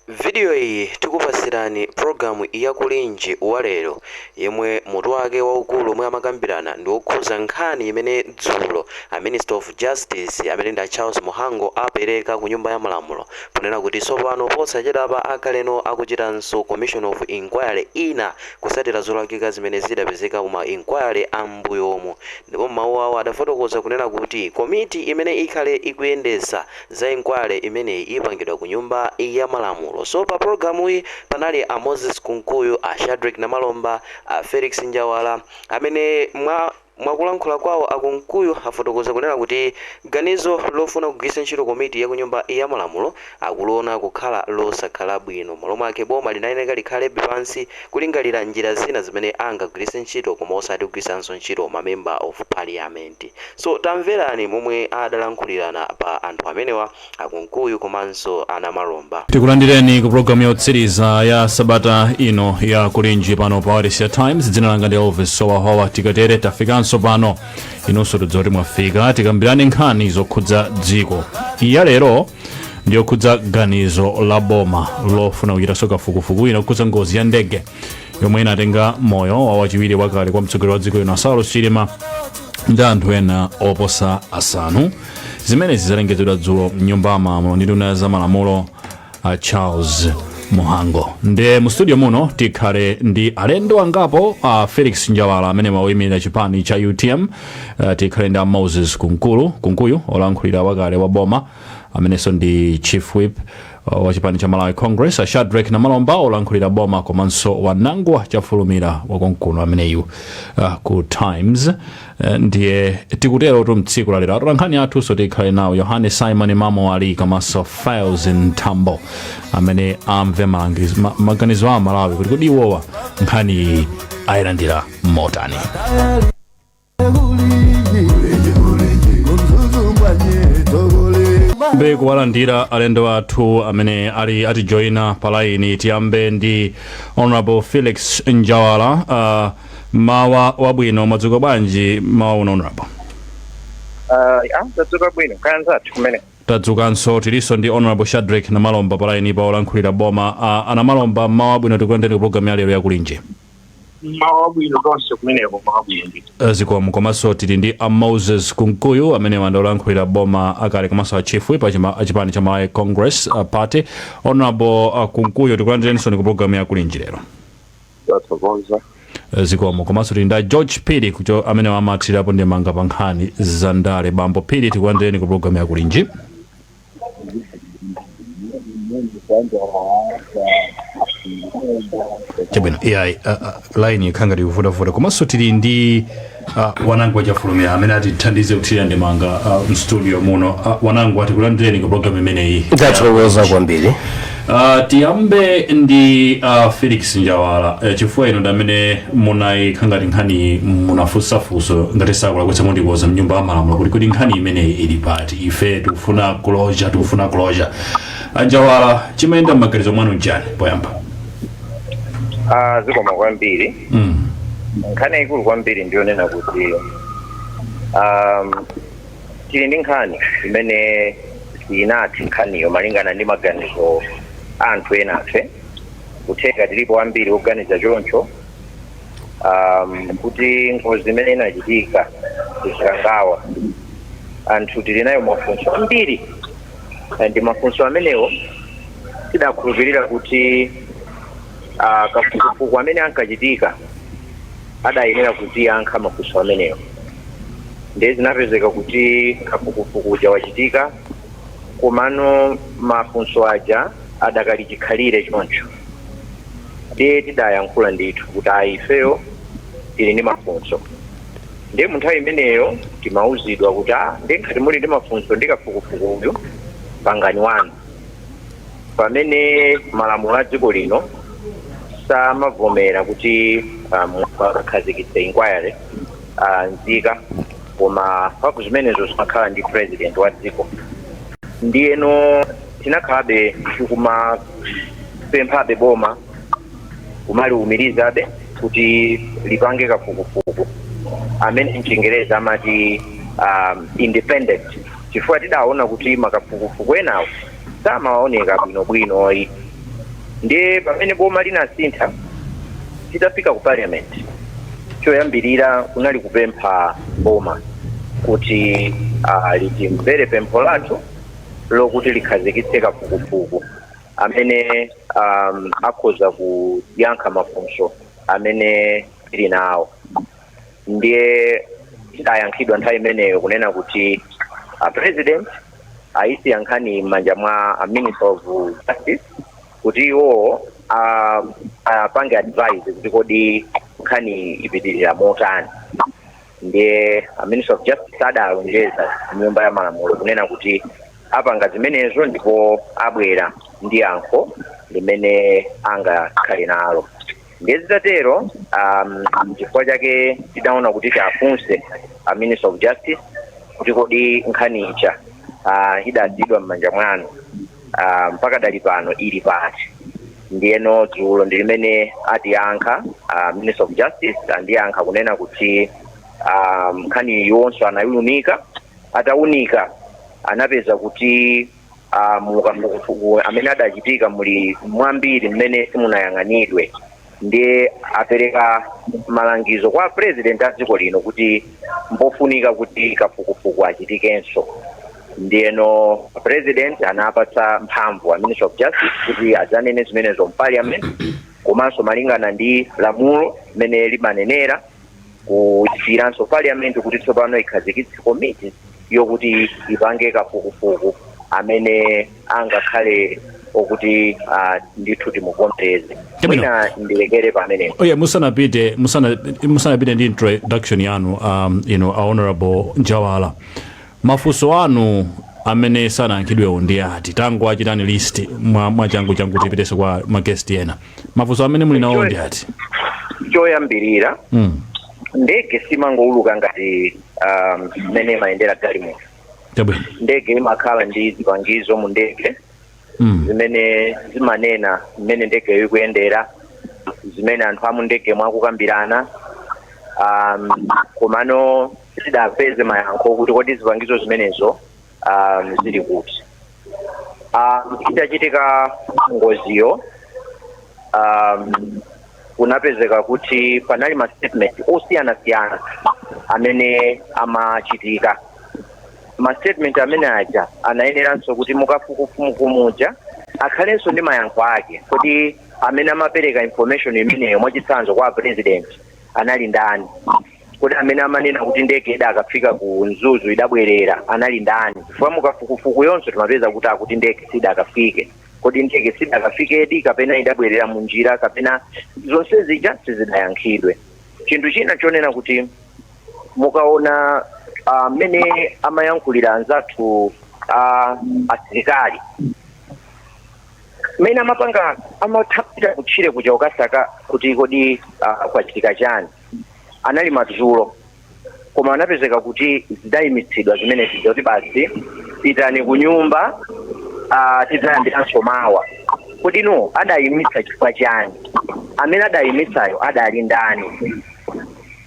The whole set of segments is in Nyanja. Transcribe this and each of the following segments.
Vidiyo iyi tikupatsirani pulogalamu ya Kulinji wa lero yomwe mutu wake waukulu omwe amakambirana ndi wokhudza nkhani imene dzulo a Minister of Justice amene ndi a Charles Mhango apereka ku Nyumba ya Malamulo ponena kuti tsopano posachedwapa akhalano akuchitanso Commission of Enquiry ina kutsatira zolakwika zimene zidapezeka mu ma enquiry a m'mbuyomu ndipo m'mawu awo adafotokoza kunena kuti komiti imene ikhale ikuyendetsa za inquiry imeneyi ipangidwa ku nyumba ya malamulo so pa program yi panali a Moses Kunkuyu, a Shadreck Namalomba, a Felix Njawala amene mwakulankhula kwawo a Kunkuyu afotokoza kunena kuti ganizo lofuna kugwiritsa ntchito komiti ya kunyumba ya malamulo akuliona kukhala losakhala bwino malo mwake boma linayeneka likhalebe pansi kulingalira njira zina zimene angagwiritse ntchito koma osati kugwiritsanso ntchito ma member of parliament. So tamverani momwe adalankhulirana apa anthu amenewa a Kunkuyu komanso a Namalomba. Tikulandireni ku programu yotsiriza ya sabata ino ya Kulinji pano pa Wailesi ya Times. Dzina langa ndi Elvis Howahowa. Tikatere tafikanso pano, inunso tudziwa kuti mwafika. Tikambirane nkhani zokhudza dziko. Iyi ya lero ndiyokhudza ganizo la boma lofuna kuchitanso kafukufuku wina okhudza ngozi ya ndege yomwe inatenga moyo wa wachiwiri wakale kwa mtsogoleri wa dziko lino saulos chilima ndi anthu ena oposa asanu zimenezi zalengezedwa dzulo mnyumba ya malamulo ndi nduna za malamulo a charles muhango nde mu studio muno tikhale ndi alendo angapo a felix njawala amene wayimirira chipani cha utm uh, tikhale ndi a moses kunkulu kunkuyu olankhulira wakale wa boma amenenso ndi chief whip wa chipani cha malawi congress a shadrack namalomba olankhulira boma komanso wanangwa chafulumira wakonkuno ameneyu uh, ku times uh, ndiye tikuterotu mtsiku lalero atolankhani athunso tikhale nawo yohane simon mamo ali komanso files ntambo amene amve malangizo- ma- maganizo a amalawi kuti kodi iwowa nkhani ayilandira motani tiyambe kuwalandira alendo athu amene ali atijoyina pa layini tiyambe ndi honorable felix njawala uh, mmawa wabwino mwadzuka bwanji mmawa uno honorable Ah, ya, tadzuka bwino kaya anzathu kumeneko tadzukanso tilinso ndi honorable shadrek namalomba pa layinipa olankhulira boma uh, a namalomba mmawa wabwino tikulandireni ku programu ya lero ya kulinji mmawa wabwino nonse kumeneko mmawa wabwino ndithu Eh, zikomo komanso tili ndi a moses kunkuyu amene awa ndi olankhulira boma akale komanso a chief whip a chipani cha malawi congress uh, party honorable uh, kunkuyu tikulandireninsoni ku programu ya kulinji lero tathokoza Eh, zikomo komanso tili ndi a george phiri kucho amene awa amathirapo ndemanga pa nkhani za ndale bambo phiri tikulandireni ku programu ya kulinji chabwino iyayi ah, ah, line ikukhala ngati ikuvuta-vuta komanso tili ndi ah, Wanangwa Chafulumira amene atithandize kuthirira ndemanga ah, mstudio muno Ah, Wanangwa tikulandireni ku programu imeneyi tathokoza kwambiri Uh, tiyambe ndi uh, Felix Njawala uh, chifukwa inu ndamene munayiika ngati nkhani munafunsa funso ngati sindikulakwitsa mundikonza mnyumba ya malamulo kuti kodi nkhani imeneyi ili pati ife tikufuna closure tikufuna closure a Njawala chimayenda m'maganizo mwanu njani poyamba Ah, zikomo kwambiri mm. nkhani yayikulu kwambiri ndiyonena kuti um, tili ndi nkhani imene tili nayo nkhaniyo malingana ndi maganizo a anthu enafe kutheka tilipo ambiri oganiza choncho um, kuti ngozi imene inachitika ku Chikangawa anthu tili nayo mafunso ambiri and mafunso amenewo tidakhulupirira kuti uh, kafukufuku amene ankachitika adayenera kutiyankha mafunso amenewo ndiye zinapezeka kuti kafukufuku uja wachitika komano mafunso aja adakali chikhalire choncho ndiye tidayankhula ndithu kuti ayi ifeyo tili ndi mafunso ndiye mu nthawi imeneyo timauzidwa kuti a ndiye ngati muli ndi mafunso ndi kafukufuku uyu pangani wanu pamene malamulo a dziko lino samavomera kuti munthu akakhazikitse inquiry ah, nzika koma mphamvu zimenezo zimakhala ndi president wa dziko ndiyeno tinakhalabe tikumapemphabe boma kumaliumirizabe kuti lipange kafukufuku amene mchingerezi amati um, independent chifukwa tidaona kuti makafukufuku enawo samaoneka bwinobwino ayi ndiye pamene boma linasintha titafika ku parliament choyambirira kunali kupempha boma kuti ah, litimvere pempho lathu lokuti likhazikitse kafukufuku amene um, akhoza kuyankha mafunso amene tili nawo ndiye tidayankhidwa nthawi imeneyo kunena kuti a president ayisiya nkhani m'manja mwa a minister of justice kuti iwo a- apange advise kuti kodi nkhani ipitirira motani ndiye a minister of justice adalonjeza nyumba ya malamulo kunena kuti apanga zimenezo ndipo abwera ndi yankho limene angakhale nalo ndiye zitatero um, chifukwa chake tidaona kuti tiafunse a minister of justice kuti kodi nkhani ija uh, idadzadwa m'manja mwanu uh, mpaka dati pano ili pati ndiyeno dzulo ndi limene atiyankha uh, minister of justice andiyankha kunena kuti um, nkhani yonse anaiunika ataunika anapeza kuti ah, mu kafukufuku amene adachitika muli mwambiri mmene simunayang'anidwe ndiye apereka malangizo kwa president a dziko lino kuti mpofunika kuti kafukufuku achitikenso ndiyeno president anapatsa mphamvu a minister of justice kuti adzanene zimenezo mparliament komanso malingana ndi lamulo limene limanenera kusiyiranso parliament kuti tsopano ikhazikitse komiti yokuti ipange kafukufuku amene angakhale okuti ah, ndithu timuvomereze mwina ndilekere pamenepo oye musanapite musana- musanapite ndi introduction yanu um, you know, a honorable njawala Mafunso anu amene sanayankhidwewo ndi ati? Tangoachitani list mwa mwachangu changu tipitenso kwa ma guest ena. Mafunso amene muli nawowo ndi ati? Choyambirira Mm. ndege simangouluka ngati um, mmene imayendera galimoto. Chabwino. Ndege imakhala ndi zipangizo mu ndege Mm. zimene zimanena mmene ndegeyo ikuyendera, zimene anthu amu ndege mukukambirana um, komano sitidapeze mayankho kuti kodi zipangizo zimenezo um, zili kuti um, itachitika ngoziyo um, kunapezeka kuti panali ma statement osiyanasiyana amene amachitika ma statement amene aja anayeneranso kuti mukafukufuku muja akhalenso ndi mayankho ake kodi amene amapereka information imeneyo mwachitsanzo kwa president anali ndani kodi amene amanena kuti ndege idakafika ku mzuzu idabwerera anali ndani chifukwa mukafukufuku yonse timapeza kuti akuti ndege sidakafike kodi ndege sidakafikedi kapena idabwerera mu njira kapena zonse zija sizidayankhidwe chinthu china chonena kuti mukaona mmene uh, amayankhulira anzathu uh, asilikali mmene amapanga atapita kutchire kuja kukasaka kuti kodi uh, kwachitika chani anali madzulo koma anapezeka kuti zidayimitsidwa zimene zija kuti basi pitani ku nyumba ah, tidzayambiranso mawa kodi now adayimitsa chifukwa chani amene adayimitsayo adali ndani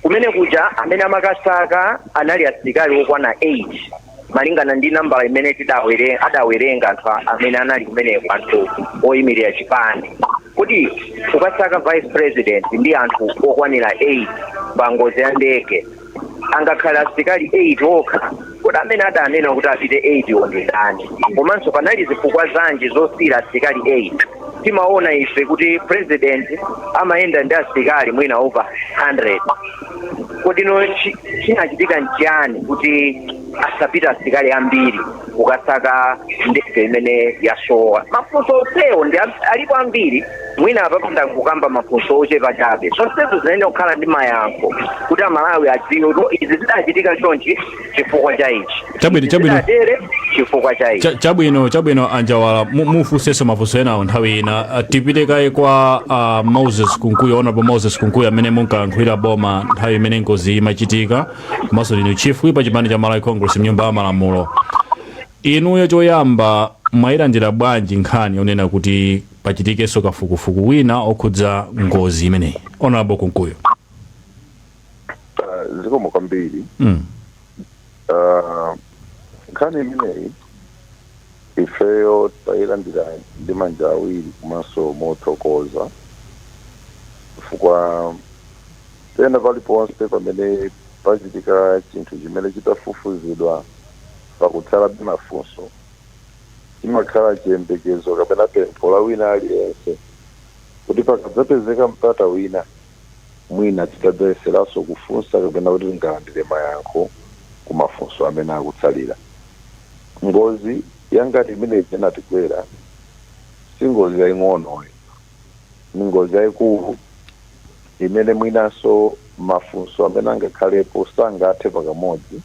kumene kuja amene amakasaka anali asilikali okwana 8 malingana ndi nambala imene tidawere adawerenga anthu a- amene anali kumene kwa anthu oyimirira chipani kodi pokasaka vice president ndi anthu okwanira 8 pa ngozi ya ndege angakhale asilikali 8 okha kodi amene adanena kuti apite 8 wo ndi ndani komanso panali zifukwa zanji zosiyira asilikali 8 timaona ife kuti president amayenda ndi asilikali mwina over 100 kodi no chi- chinachitika nchiyani kuti asapita asilikali ambiri kukasaka ndege imene yasowa mafunso onsewo ndi am- alipo ambiri mwina apapa ndangokamba mafunso ochepa chabe zonsezo zimayenera kukhala ndi mayankho kuti amalawi adziwe kuti izi zidachitika chonchi chifukwa cha ichi Chabwino, chabwino. Zinatere chifukwa cha ichi Cha- chabwino chabwino anjawala mu- mufunsenso mafunso enawo nthawi ina Ah, tipite kaye kwa ah, moses kunkuyu honorable moses kunkuyu amene munkayankhulira boma nthawi imene ngozi imachitika komanso ndinu chief whip wa chipani cha malawi congress mnyumba ya malamulo inuyo choyamba mwayilandira bwanji nkhani yonena kuti pachitikenso kafukufuku wina okhudza ngozi imeneyi honorable kunkuyu Ah, zikomo kwambiri mm. Ah, nkhani imeneyi ifeyo tayilandira ndi manja awiri komanso mothokoza chifukwa pena paliponse pamene pachitika chinthu chimene chitafufuzidwa pakutsalabe mafunso chimakhala chiyembekezo kapena pempho la wina aliyense kuti pakadzapezeka mpata wina Mwina titadzayeseranso kufunsa kapena kuti tingalandire mayankho ku mafunso amene akutsalira. Ngozi yangati imene ija inatigwera si ngozi yaing'onoyi. Ni ngozi yaikulu imene mwinanso mafunso amene angakhalepo sangathe pakamodzi.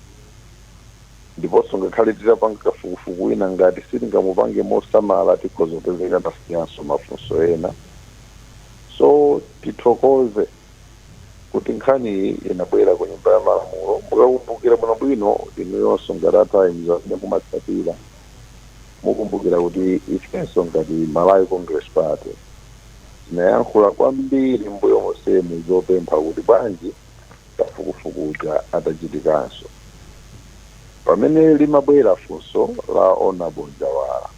Ndiponso ngakhale titapanga kafukufuku wina ngati sitingamupange mosamala tikhoza kupezeka tasiyanso mafunso ena. So tithokoze kuti nkhani iyi inabwera ku nyumba ya malamulo. Mukakumbukira bwino bwino inuyonso ngati a Times amene mumatsatira mukumbukira kuti ifenso ngati Malawi Congress Party tinayankhula kwambiri mbuyo monsemu zopempha kuti bwanji kafukufuku uja atachitikanso. Pamene limabwera funso la Hon. Njawala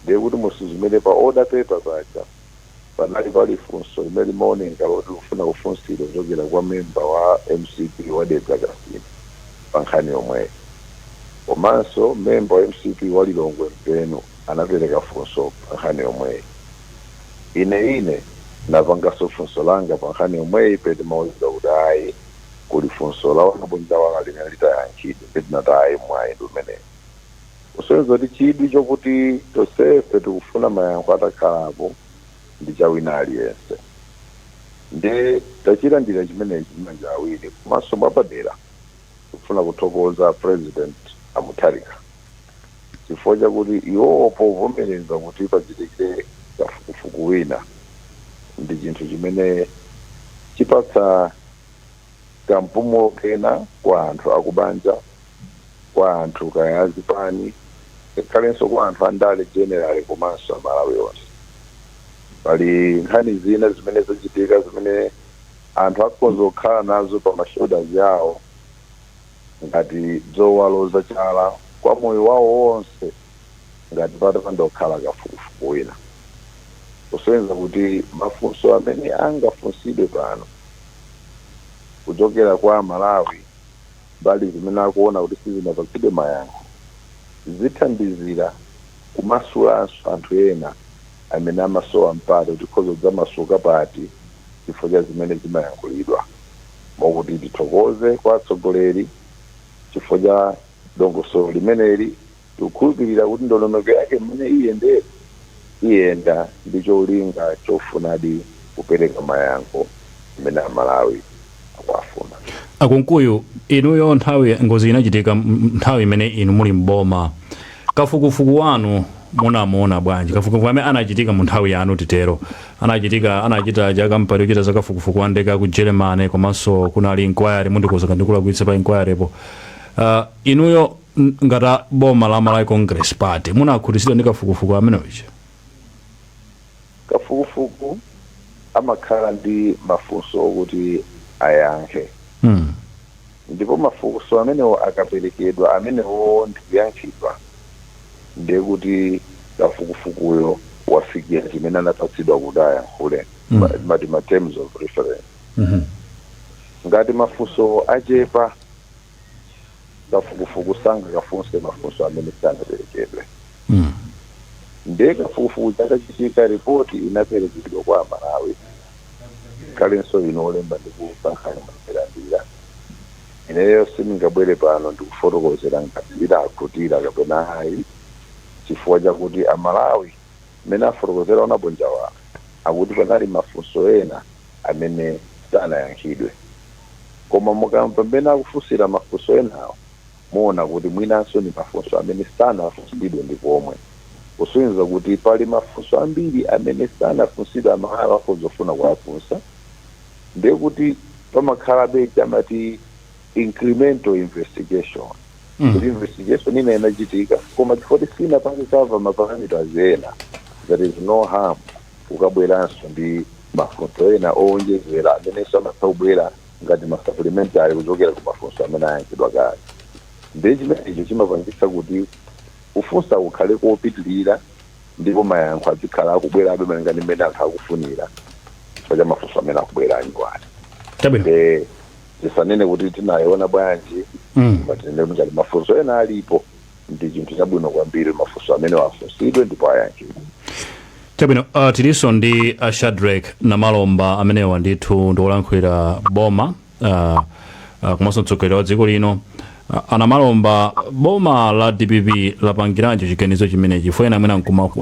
ndiye kuti mutasuzumira pa order paper paja. Panali pali funso limene limaoneka loti likufuna kufunsidwa kuchokera kwa member wa mcp wa Dedza Kasina pa nkhani yomweyo. Komanso member wa mcp wa Lilongwe Mpenu anapereka funso pa nkhani yomweyi. Ine ine napanganso funso langa pa nkhani yomweyi pene ndimauzidwa kuti ayi kuli funso la Honorable Njawala limene litayankhidwe. Nde ndinati ayi mwayi ndi umenewo. kusonyeza kuti chidwi chokuti tonsefe tikufuna mayankho atakhalapo ndi cha wina aliyense nde tachilandira chimenechi ndi manja awiri komanso mwapadera tikufuna kuthokoza president a Mutharika chifukwa chakuti iwowo povomereza kuti pachitikire kafukufuku wina ndi chinthu chimene chipatsa kampumulo kena kwa anthu akubanja kwa anthu kaya azipani ngakhalenso kwa anthu andale generally komanso amalawi onse pali nkhani zina zimene zachitika zimene anthu akhoza kukhala nazo pa mashoulders awo ngati zowaloza chala kwa moyo wawo wonse ngati patapanda kukhala kafukufuku wina kusonyeza kuti mafunso amene angafunsidwe pano kuchokera kwa amalawi mbali zimene akuona kuti sizinapatsidwe mayankho, zithandizira kumasulanso anthu ena amene amasowa mpata kuti tikhoza kudzamasuka pati chifukwa cha zimene zimayankhulidwa. Mokuti tithokoze kwa atsogoleri chifukwa cha dongosolo limeneli. Tikukhulupirira kuti ndondomeko yake mmene iyendere iyenda ndi cholinga chofunadi kupereka mayankho amene Amalawi akuwafuna. A Kunkuyu inuyo nthawi ngozi inachitika nthawi imene inu muli m'boma, kafukufuku wanu munamuona bwanji? Kafukufuku amene anachitika mu nthawi yanu titero, anachitika anachita aja a kampani yochita za kafukufuku wa ndege aku Germany komanso kunali inquiry, mundikonza ngati ndikulakwitsa pa inquirypo, inuyo N, ngati a, boma la Malawi Congress Party munakhutitsidwa ndi kafukufuku amene uja? Kafukufuku amakhala ndi mafunso okuti ayankhe. M, Ndipo mafunso amenewo akaperekedwa amenewowo ndi kuyankhidwa ndiye kuti kafukufukuyo wafikira chimene anapatsidwa kuti ayankhule, Mm. ma- timati ma terms of reference. mhmm. Ngati mafunsowo achepa kafukufuku sangakafunse mafunso amene sanaperekedwe Mm. ndiye kafukufuku uja atachitika ripoti inaperekedwa kwa amalawi ngakhalenso inu olemba ndi kuulutsa nkhani munailandira ineyo sindingabwere pano ndikufotokozera ngati tidakhutira kapena ayi chifukwa chakuti amalawi Mmene afotokozera Honourable Njawala kuti panali mafunso ena amene sanayankhidwe. Koma mukamamva mmene akufunsira mafunso enawo muona kuti mwinanso ndi mafunso amene sanafunsidwe ndi komwe. Kusonyeza kuti pali mafunso ambiri amene sanafunsidwe Amalawi akhoza kufuna kuwafunsa ndiye kuti pamakhalabe chamati. incremental investigation Mm. kuti investigation ina inachitika koma chifukwa kuti sinapange cover maparameters ena there is no harm ukabweranso ndi mafunso ena owonjezera amene amatha kubwera ngati masupplementary kuchokera ku mafunso amene ayankhidwa kale ndiye chimenecho chimapangitsa kuti kufunsa kukhale kopitirira ndipo mayankho azikhala akubwerabe malinga ndi mmene anthu akufunira chifukwa cha mafunso amene akubwera anyuwani chabwino Eh, tisanene kuti tinayiona bwanji Mm. koma tinene kuti ngati mafunso ena alipo ndi chinthu chabwino kwambiri mafunso amenewa afunsidwe ndipo ayankhidwe chabwino uh, tilinso ndi uh, shadrack namalomba amenewa ndithu ndi olankhulira boma uh, uh, komanso mtsogoleri wa dziko lino uh, a namalomba boma la dpp lapangiranji chiganizo chimenechi chifukwa ena mwina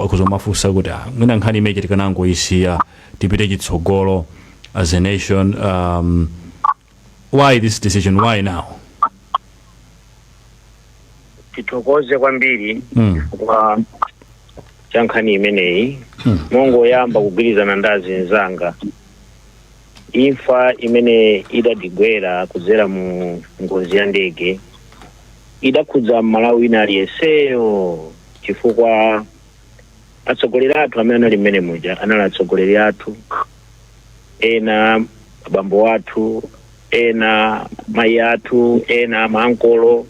akudzamafunsa kuti ah, mwina nkhani imeneyi tikanangoyisiya tipite chitsogolo as a nation um, why this decision why now tithokoze kwambiri Mm. chifukwa cha nkhani imeneyi ndingoyamba kugwirizana ndi azinzanga imfa imene idatigwera kudzera mu ngozi ya ndege idakhudza mmalawi wina aliyenseyo chifukwa atsogoleri athu amene anali mmene muja anali atsogoleri athu ena abambo athu ena mayi athu ena maankolo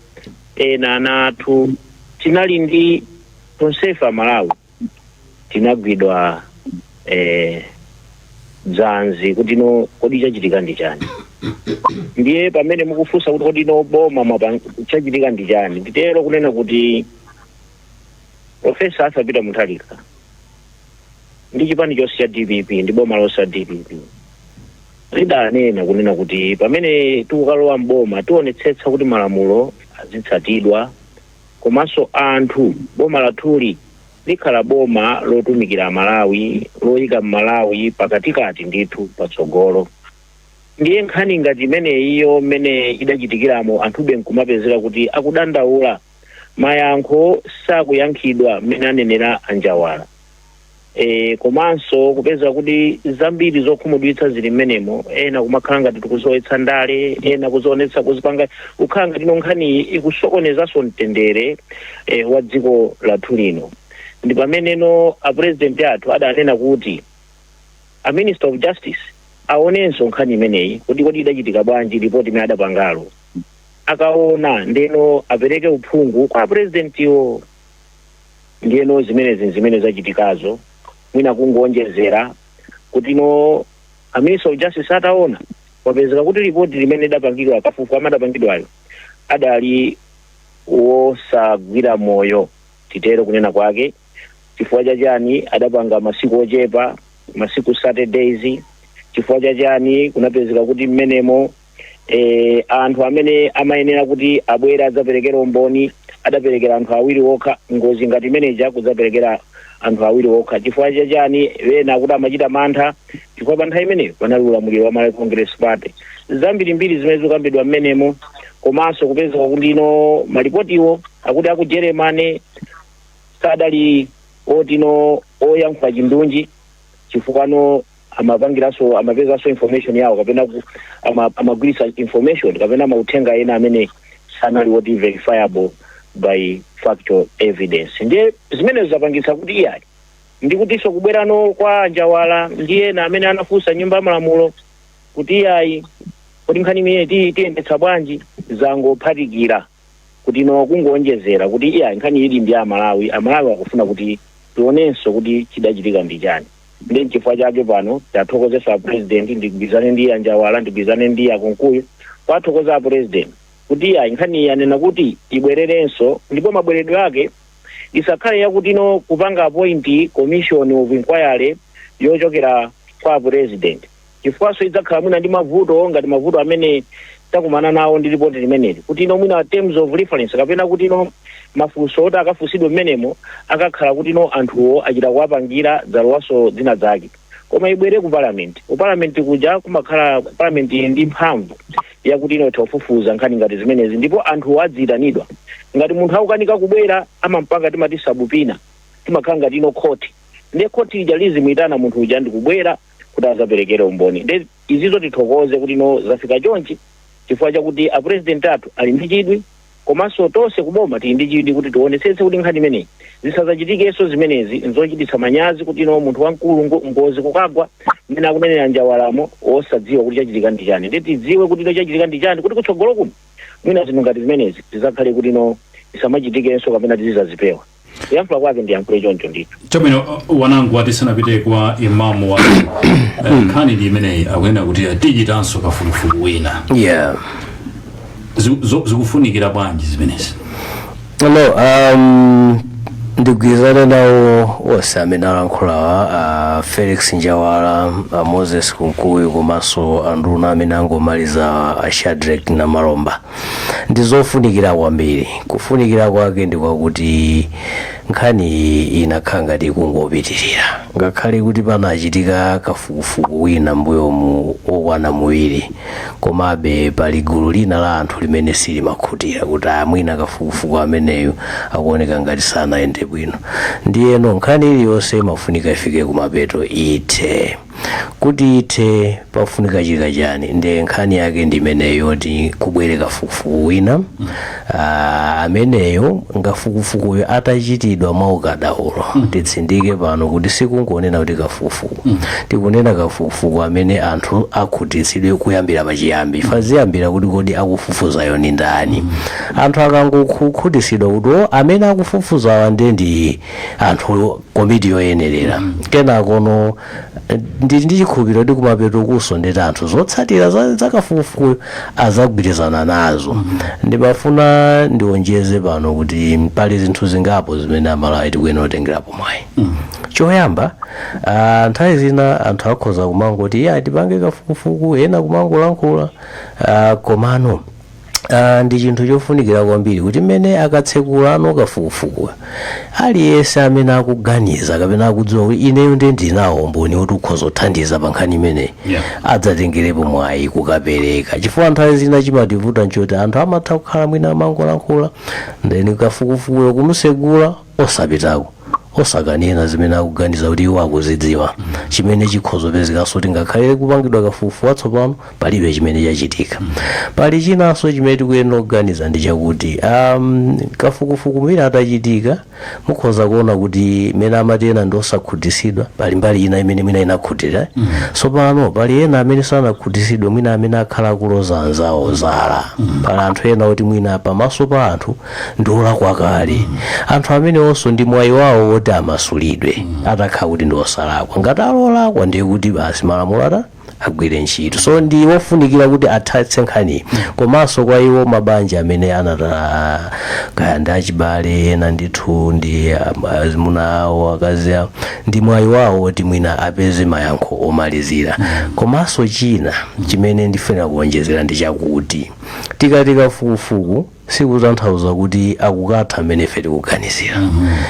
ena ana athu tinali ndi tonsefe amalawi tinagwidwa eh, dzanzi kuti no kodi chachitika ndi chani ndiye pamene mukufunsa kuti kodi no boma mwapa- chachitika ndi chani nditero kunena kuti Profesa Arthur Peter Mutharika ndi chipani chonse cha DPP ndi boma lonse la DPP lidanena kunena kuti pamene tikukalowa mboma tionetsetsa kuti malamulo azitsatidwa komanso anthu boma lathuli likhala boma lotumikira amalawi loyika mmalawi pakatikati ndithu patsogolo ndiye nkhani ngati imeneyiyo mmene idachitikiramo anthube nkumapezeka kuti akudandaula mayankho sakuyankhidwa mmene anenera anjawala e, komanso kupeza kuti zambiri zokhumudwitsa zili mmenemo ena kumakhala ngati tikulowetsa ndale ena kuzoonetsa kuzipanga kukhala ngati no nkhaniyi ikusokonezanso mtendere e, wa dziko lathu lino ndi pamene no apurezidenti athu adanena kuti a minister of justice aonenso nkhani imeneyi kuti kodi idachitika bwanji ripoti imene adapangalo akaona ndeno apereke uphungu kwa apurezidentiwo. Ndiyeno zimenezi n'zimene zachitikazo, mwina kungowonjezera kuti no a Minister of Justice ataona, apeza kuti lipoti limene lidapangidwa kafukufuku amene adapangidwayo adali wosagwira mtima, titero kunena kwake. Chifukwa cha chani adapanga masiku ochepa, masiku 30 days? Chifukwa cha chani kunapezeka kuti mmenemo eh, anthu amene amayenera kuti abwere adzaperekere umboni adaperekera anthu awiri okha ngozi ngati imeneja kudzaperekera anthu awiri okha chifukwa chachani ena akuti amachita mantha chifukwa pa nthawi imeneyo panali ulamuliro wa malawi congress party zambirimbiri zimene zikukambidwa mmenemo komanso kupezeka kuti no malipotiwo akuti aku germany sadali oti no oyankhula chindunji chifukwa no amapangiranso amapezanso information yawo kapena ku- ama- amagwiritsa information kapena mauthenga ena amene sanali woti verifiable by factual evidence ndiye zimenezo zapangitsa kuti iyayi ndi kutinso kubwerano kwa anjawala ndi ena amene anafunsa nyumba ya malamulo kuti iyayi kodi nkhani imeneyi ti- tiyendetsa bwanji zangophatikira kuti no kungoonjezera kuti iyayi nkhaniyi ili ndi amalawi amalawi akufuna kuti tionenso kuti chidachitika ndi chani nde nchifukwa chake pano tithokozenso a president ndigwirizane ndi anjawala ndigwirizane ndi akunkuyu kuwathokoza a president kuti iyayi nkhani iyi anena kuti ibwererenso ndipo mabweredwe ake isakhale yakuti no kupanga appoint commission of inquiry yochokera kwa president chifukwanso idzakhala mwina ndi mavuto ngati mavuto amene takumana nawo ndi ripoti limeneli kuti no mwina terms of reference kapena kuti no mafunso oti akafunsidwe mmenemo akakhala kuti no anthuwo achita kuwapangira zalowanso zina zake koma ibwere ku parliament ku parliament kuja kumakhala parliament ili ndi mphamvu yakuti no itha kufufuza nkhani ngati zimenezi ndipo anthuwo adziyitanidwa ngati munthu akukanika kubwera amampanga timati subpoena timakhala ngati no khoti ndiye khoti ija lizimuyitana munthu uja ndikubwera kuti azaperekere umboni nde izizo tithokoze kuti no zafika chonchi chifukwa chakuti apurezidenti athu ali ndi chidwi komanso tonse kuboma tili ndi chidwi kuti tionetsetse kuti nkhani imeneyi zisazachitikenso zimenezi nzochititsa manyazi kuti no munthu wamkulu ngo- ngozi kukagwa mmene akunenera njawalamo osadziwa kuti chachitika ndi chani nde tidziwe kuti no chachitika ndi chani kuti kutsogolo kuno mwina zinthu ngati zimenezi zizakhale kuti no zisamachitikenso kapena tizizazipewa kuyankhula kwake ndiyankhule choncho ndithu chabwino uh, wanangwa tisanapite kwa imamu wa eh, nkhani ndi imeneyi akunena kuti eh, tichitanso kafukufuku wina yeah Zi- zo- zikufunikira bwanji zimenezi no um, ndigwirizane nawo onse amene alankhulawa a felix njawala a moses kunkuyu komanso anduna amene angomaliza a shadrek namalomba ndi zofunikira kwambiri kufunikira kwake ndi kwakuti nkhani iyi inakhala ngati ikungopitirira ngakhale kuti panachitika kafukufuku wina mbuyomu wokwana muwiri komabe pali gulu lina la anthu limene silimakhutira kuti a mwina kafukufuku ameneyu akuoneka ngati sanayende bwino ndiyeno nkhani iliyonse imafunika ifike kumapeto ithe kuti ithe pafunika chika chani nde nkhani yake ndi imeneyo yoti kubwere kafukufuku wina Ah, ameneyo kafukufukuyo atachitidwa mwa ukadaulo titsindike pano kuti sikungonena kuti kafukufuku tikunena kafukufuku amene anthu akhutitsidwe kuyambira pachiyambi chifukwa ziyambira kuti kodi akufufuzayo ni ndani anthu akangokhutitsidwa kuti o amene akufufuzawa nde ndi anthu komiti yoyenerera kenakono eh, ndili ndi chikhulupiriro kuti kumapetokonso nde kuti anthu zotsatira za- zakafukufukuyo azagwirizana nazo ndimafuna ndionjeze pano kuti pali zinthu zingapo zimene amalawi tikuyenera kutengerapo mwayi choyamba ah, nthawi zina anthu akhoza kumangoti ya tipange kafukufuku ena kumangolankhula ah, komano Ah, ndi chinthu chofunikira kwambiri kuti mmene akatsekulano kafukufukuyo aliyense amene akuganiza kapena akudziwa kuti ineyo ndiye ndinawo umboni woti ukhoza kuthandiza pa nkhani imeneyi Yeah. adzatengerepo mwayi kukapereka chifukwa nthawi zina chimativuta nchoti anthu amatha kukhala mwina amangolankhula ndeni kafukufukuyo kumsegula osapitako osakanena zimene akuganiza kuti iwo akuzidziwa chimene chikhoza kupezekanso kuti ngakhale kupangidwa kafukufuku watsopano palibe chimene chachitika pali chinanso chimene tikuyenera kuganiza ndi chakuti um, kafukufuku mwina atachitika mukhoza kuona kuti mmene amati ena ndi osakhutisidwa pali mbali ina imene mwina inakhutira tsopano pali ena amene sanakhutisidwe mwina amene akhala akuloza anzawo zala pali anthu ena oti mwina pamaso pa anthu ndiolakwa kale anthu amenewonso ndi mwayi wawo woti amasulidwe atakhala kuti ndi osalakwa ngati ali olakwa ndiye kuti basi malamulo ata agwire ntchito so ndi kofunikira kuti athatse nkhani komanso kwa iwo mabanja amene anataya kaya ndi achibale ena ndithu ndi um, azimuna awo akazi awo ndi mwayi wawo woti mwina apeze mayankho omalizira komanso china chimene ndifuna kuonjezera ndi chakuti tikati kafukufuku sikutanthauza kuti akukatha mmene ife tikuganizira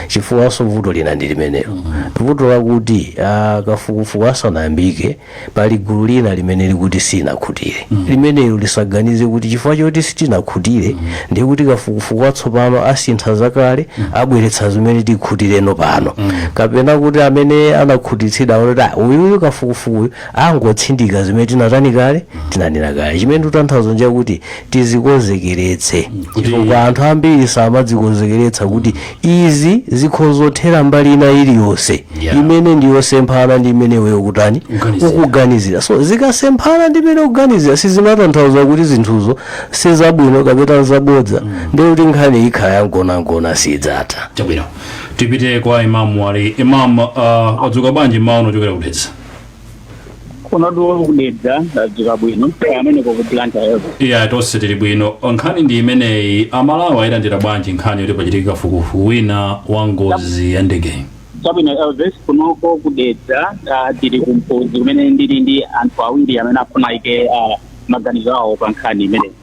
chifukwanso vuto lina ndi limenelo vuto lakuti ah, kafukufuku asanayambike pali gulu lina limene likuti silinakhutire limenelo lisaganize kuti chifukwa choti sitinakhutire ndiye kuti kafukufuku watsopano asintha zakale abweretsa zimene tikhutireno pano kapena kuti amene anakhutitsidwa aone kuti "Ah, uyuyu kafukufukuyu angotsindika zimene tinatani kale tinanena kale chimene tikutanthauza nchakuti tizikonzekeretse chifukwa anthu ambiri samadzikonzekeretsa kuti izi zikhozothera mbali ina iliyonse Yeah. imene ndi yosemphana ndi imene iweyo ukutani Kuganizira. ukuganizira so zikasemphana ndi imene ukuganizira sizimatanthauza kuti zinthuzo sizabwino kapena nzabodza ndiye kuti nkhani ikhala yangonangona sidzatha chabwino tipite kwa imamu ali imam uh, wadzuka bwanji mmawa uno kuchokera ku Dedza kunotu ku Dedza ndadzuka bwino kaya amene ku Blantyre-ko iya tonse tili bwino nkhani ndi imeneyi amalawi ayilandira bwanji nkhani yoti pachitika kafukufuku wina wa ngozi ya ndege chabwino elvis kunoko ku Dedza ah, tili kumpozi kumene ndili ndi anthu awiri amene afuna aike ah, maganizo awo pa nkhani imeneyi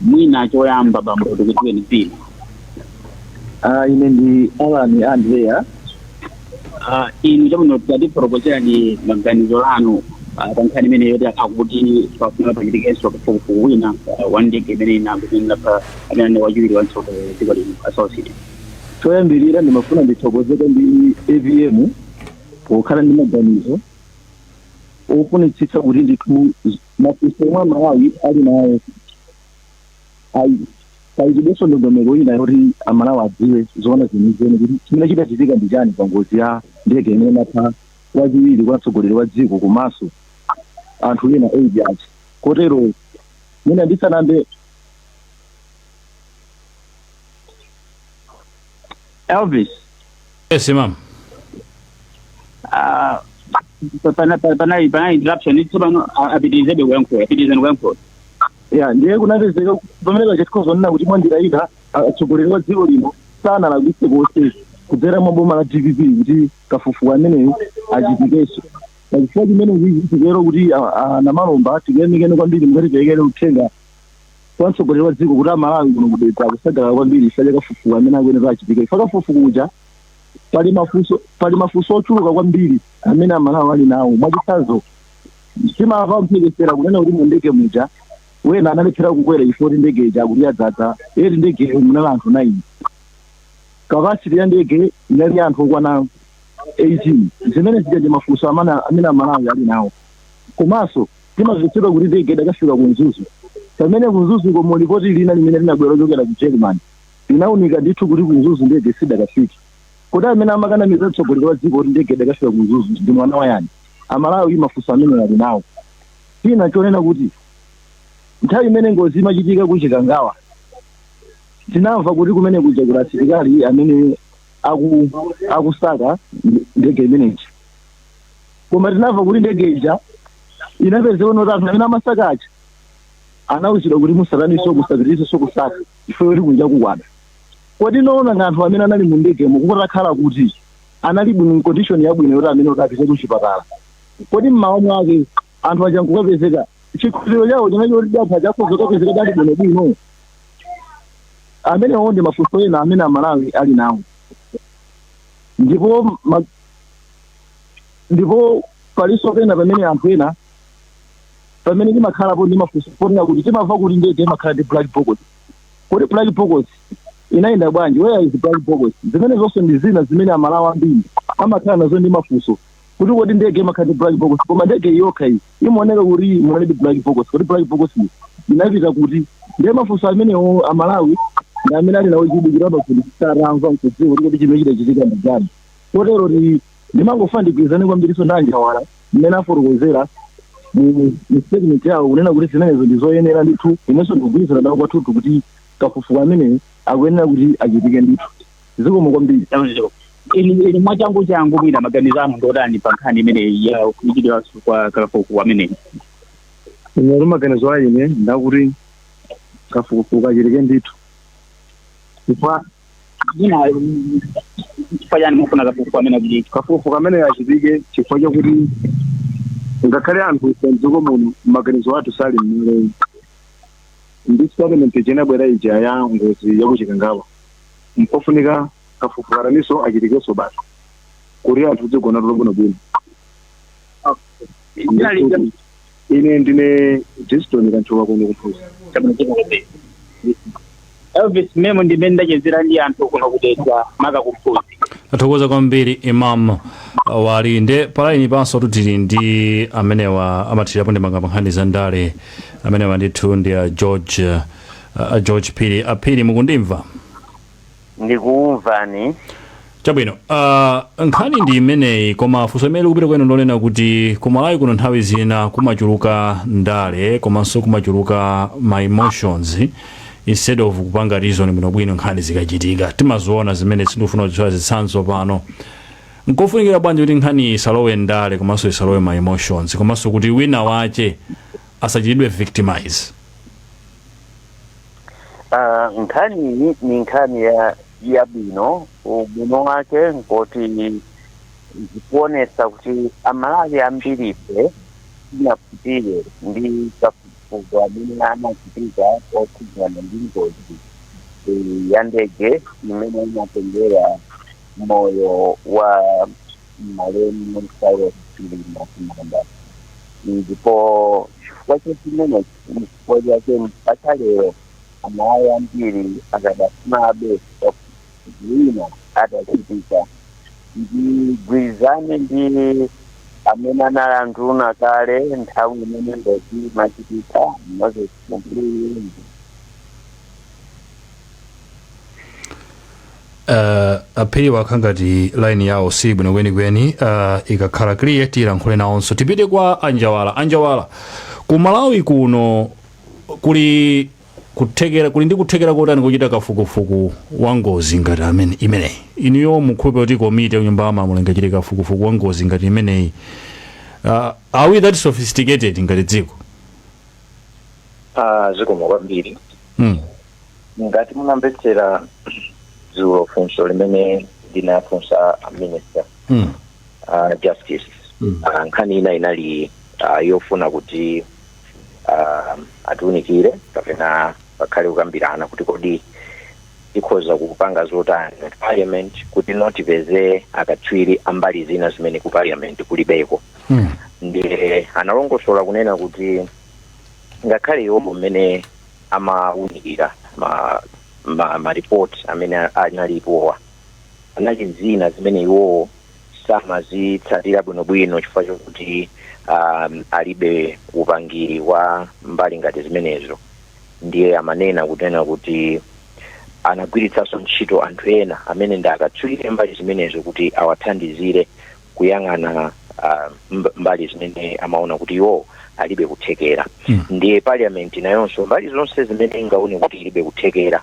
mwina choyamba bambo tikudziweni dzina Ah, ine ndi Alan Andrea Ah, inu chabwino tatifotokozereni maganizo anu ah, pa nkhani imeneyi yoti akuti pafuna pachitikenso kafukufuku wina ah, wa ndege imene inapha amene anali wachiwiri kwa mtsogoleri wa dziko lino a Saulos choyambirira ndimafuna ndithokoze kwa apm pokhala ndi maganizo ofunitsitsa kuti ndithu mafunso omwe amalawi ali nawo ayikidwenso ndondomeko ina yoti amalawi adziwe zoona zenizeni kuti chimene chidachitika ndi chani pa ngozi ya ndege imene inapha wachiwiri kwa mtsogoleri wa dziko komanso anthu ena eight aja kotero mwina ndisanambe Elvis. Yes, Imam. Ah, pana pana pana pana interruption it's pano apitirizebe kuyankha pitirizani kuyankha ya ndiye kunapezeka pamene tikhoza kunena kuti mwanjira ina atsogoleri wa dziko lino sanalakwitse konse kudzera mwa boma la dpp kuti kafukufuku ameneyo achitikenso pachifukwa chimenechi titero kuti a- a- namalomba tikuyamikeni kwambiri mukatiperekere uthenga kwa mtsogoleri wa dziko kuti amalawi kuno kuDedza akusangalala kwambiri chifukwa cha kafukufuku amene akuyenera achitike chifukwa kafukufuku uja pali mafunso pali mafunso ochuluka kwambiri amene amalawi ali nawo mwachitsanzo timamva mphekesera kunena kuti mu ndege muja ena analephera kukwera chifukwa kuti ndege ija akuti yadzadza eti ndegeyo munali anthu 9 kapasiti ya ndege inali ya anthu okwana 18 zimene zija ndi mafunso amana- amene amalawi ali nawo komanso Timamvetsedwa kuti ndege idakafika ku Mzuzu. Pamene ku Mzuzuko mu lipoti lina limene linabwera lochokera ku Jeremani linaunika ndithu kuti ku Mzuzu ndege sidakafike. Kodi amene amakanamiza mtsogoleri wa dziko kuti ndege idakafika ku Mzuzu ndi mwana wa yani? Amalawi mafunso amenewa ali nawo. China n'chonena kuti nthawi imene ngozi imachitika ku Chikangawa tinamva kuti kumene kuja kuli asilikali amene aku, akusaka ndege imeneyi. koma tinamva kuti ndege ija inapezeka poti anthu amene amasaka aja anawuzidwa kuti musataninso musapitirizenso kusaka chifukwa kuti kunja kukwada kodi nzoona ngati anthu amene anali mu ndegemo kutakhala kuti anali bwino mu condition yabwino yoti amene kuti apite kuchipatala kodi mmawa mwake anthu aja nkukapezeka chikhulupiriro chawo chinali choti anthu aja akhoza kukapezeka ali bwino bwino amenewo ndi mafunso ena amene amalawi ali nawo ndipo ma- ndipo palinso pena pamene anthu ena pamene timakhalapo ndi mafunso ponena kuti timamva kuti ndege imakhala ndi black box kodi black box inayenda bwanji where is black box zimenezonso ndi zina zimene amalawi ambiri amakhala nazo ndi mafunso kuti kodi ndege imakhala ndi black box koma ndege yokha iyi imaoneka kuti inali ndi black box kodi black box iyi inapita kuti ndiye mafunso amenewo amalawi ndi amene ali nawo kudikira pakuti sanamve nkudziwa kuti kodi chimene chidachitika ndi chani kotero ti ndimangofuna ndigwirizane kwambirinso ndi a Njawala mmene afotokozera mu mu statement yawo kunena kuti zimenezo ndi zoyenera ndithu inenso ndikugwirizana nawo kwathunthu kuti kafukufuku ameneyo akuyenera kuti achitike ndithu zikomo kwambiri Tanzania. Ili ili mwachangu changu mwina maganizo anu ndotani pa nkhani imeneyi ya kuchitidwa kwa kafukufuku ameneyi. ine maganizo a ine ndakuti kafukufuku achitike ndithu chifukwa zina chifukwa chani mufuna kafukufuku amene achitike kafukufuku amene achitike chifukwa chakuti ngakhale anthu ife mdziko muno maganizo athu sali mmaleyi ndi statement ija inabwera ija ya ngozi yakuchikangawa mpofunika kafukufuku ataninso achitikenso basi kuti anthu tidzigona tulo bwinobwino Ndithu- Ine ndine Diston Kanthuka kuno ku Mphunzi. Chabwino dziko lobiri. Elvis Memo ndi mmene ndachezera ndi anthu kuno ku Dedza maka ku Mphunzi. tathokoza kwambiri Imam Wali nde palaini panso tu tili ndi amenewa amathirirapo ndemanga pa nkhani za ndale amenewa ndithu ndi a george a george phiri aphiri mukundimva ndikukumvani chabwino uh, nkhani ndi imeneyi koma funso imene likupita kwenu ndi lonena kuti ku malawi kuno nthawi zina kumachuluka ndale komanso kumachuluka ma emotions instead of kupanga reason bwinobwino nkhani zikachitika timaziona zimene sindikufuna kudziwa zitsanzo pano nkofunikira bwanji kuti nkhani isalowe ndale komanso isalowe ma emotions komanso kuti wina wake asachitidwe victimize Ah, nkhani iyi ni nkhani yabwino ubwino wake nkoti zikuonesa kuti amalawi ambirife sitinakhutire ndi kafukufuku amene anachitika okhudzana ndi ngozi eh, ya ndege imene inatengera moyo wa malemu saulos chilima kumanda ndipo chifukwa cha chimenechi N'chifukwa chake mpaka lero amalawi ambiri akadafunabe wina atachitika ndigwirizane ndi amene anali anduna kale nthawi imene ngozi imachitika, Moses Kunkuyu ndi. uh, aphiri wakhala ngati line yawo si bwino kwenikweni uh, ikakhala clear tilankhule nawonso tipite kwa anjawala anjawala ku malawi kuno kuli kuthekera kuli ndi kuthekera kotani kuchita kafukufuku wa ngozi ngati imeneyi inuyo mukukhulupirira kuti komiti ya nyumba yamalamulo ingachite kafukufuku wa ngozi ngati imeneyi uh, are we that sophisticated ngati dziko Ah, zikomo kwambiri mm. ngati munamvetsera dzulo funso limene ndinawafunsa a minister Mm. a justice Mm. uh, nkhani ina inali uh, yofuna kuti uh, atiunikire kapena pakhale kukambirana kuti kodi tikhoza kupanga zotani ngati parliament kuti nafe tipeze akatswiri ambali zina zimene ku parliament kulibeko Mm. ndiye analongosola kunena kuti ngakhale iwowo mmene amawunikira ma, ma, ma report amene analipowa anali ndi zina zimene iwowo samazitsatira bwinobwino chifukwa chokuti um, alibe upangiri wa mbali ngati zimenezo ndiye amanena kunena kuti anagwiritsanso ntchito anthu ena amene ndi akatswiri mbali zimenezo kuti awathandizire kuyang'ana ah, mb- mbali zimene amaona kuti iwo alibe kuthekera Mm. ndiye parliament nayonso mbali zonse zimene ingaone kuti ilibe kuthekera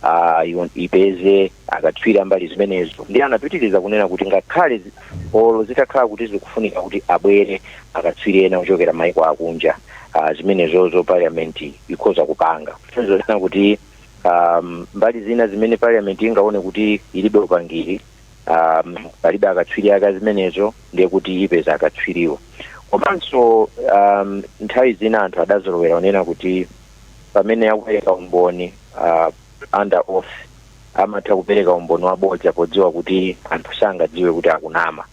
ah, iwo- ipeze akatswiri ambali zimenezo ndiye anapitiriza kunena kuti ngakhale zi- olo zitakhala kuti zikufunika kuti abwere akatswiri ena ochokera maiko akunja ah, zimenezozo parliament ikhoza kupanga zonena kuti um, mbali zina zimene parliament ingaone kuti ilibe upangiri um, palibe akatswiri aka zimenezo ndiye kuti ipeza akatswiriwo komanso um, nthawi zina anthu adazolowera kunena kuti pamene akupereka umboni uh, under oath amatha kupereka umboni wabodza podziwa kuti anthu sangadziwe kuti akunama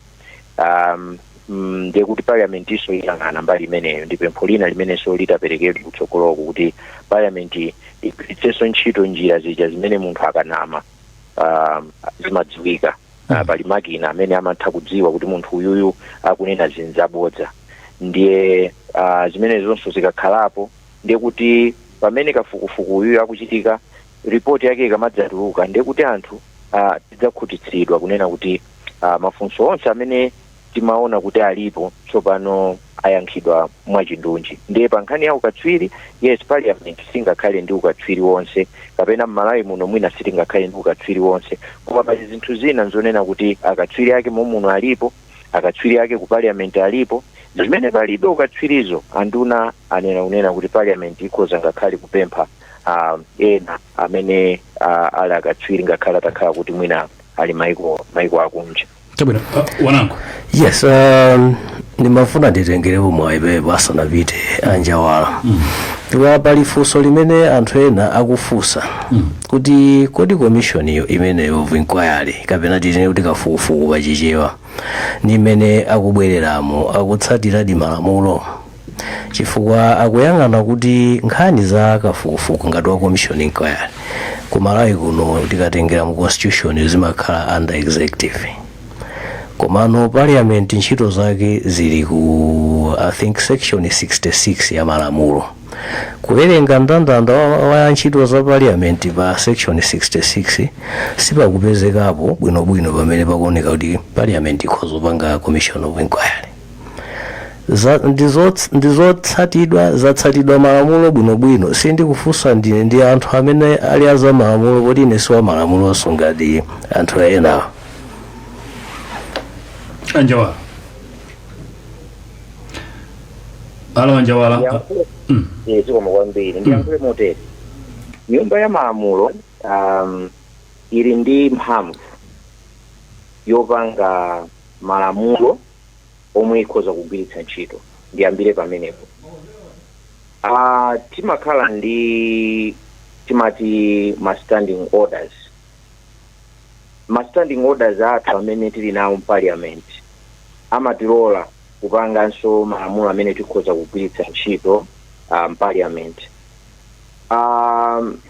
um, mm, ndiye kuti parliament-nso iyang'ana mbali imeneyo ndi pempho lina limenenso litaperekedwa kutsogoloko kuti parliament igwiritsenso ntchito njira zija zimene munthu akanama um, zimadziwika uh, pali makina amene amatha kudziwa kuti munthu uyuyu akunena zinthu zabodza ndiye uh, zimenezonso zikakhalapo ndiye kuti pamene kafukufuku uyuyu akuchitika ripoti yake ikamadzatuluka ndiye kuti anthu uh, tidzakhutitsidwa kunena kuti uh, mafunso onse amene timaona kuti alipo tsopano ayankhidwa mwachindunji ndiye pa nkhani ya ukatswiri yes parliament singakhale ndi ukatswiri wonse kapena mmalawi muno mwina sitingakhale ndi ukatswiri wonse koma pali zinthu zina nzonena kuti akatswiri ake mommuno alipo akatswiri ake ku parliament alipo zimene palibe ukatswirizo anduna anena kunena kuti parliament ikhoza ngakhale kupempha um, ena amene uh, ali akatswiri ngakhale atakhala kuti mwina ali maiko akunja chabwino uh, wanangu yes um, ndimafuna nditengerepo mwayi pompo asanapite anjawala chifukwa pali funso limene anthu ena akufunsa kuti kodi commission imeneyo of inquiry kapena titene kuti kafukufuku pachichewa ndi imene akubwereramo akutsatiradi malamulo chifukwa akuyang'ana kuti nkhani za kafukufuku ngati wa commission inquiry ku malawi kuno tikatengera mu constitution zimakhala under executive komano parliament ntchito zake zili ku i think section 66 ya malamulo kuwerenga ndandanda wa, wa ntchito za parliament pa section 66 sipakupezekapo bwinobwino pamene pakuoneka kuti parliament ikhoza kupanga commission of inquiry za, ndizots- ndizotsatidwa zatsatidwa malamulo bwinobwino sindikufunsa ndine ndi anthu amene ali aza malamulo poti ine siwa malamulonso ngati anthu ena anjawala alo anjawala ndiyankhule Mm. eh, zikomo kwambiri ndiyankhule motere nyumba ya malamulo um, ili ndi mphamvu yopanga malamulo omwe ikhoza kugwiritsa ntchito. Ndiyambire pamenepo. A, timakhala ndi timati ma standing orders. Ma standing orders athu amene tili nawo mparliament amatilola kupanganso malamulo amene tikhoza kugwiritsa ntchito uh, mparliament. Um,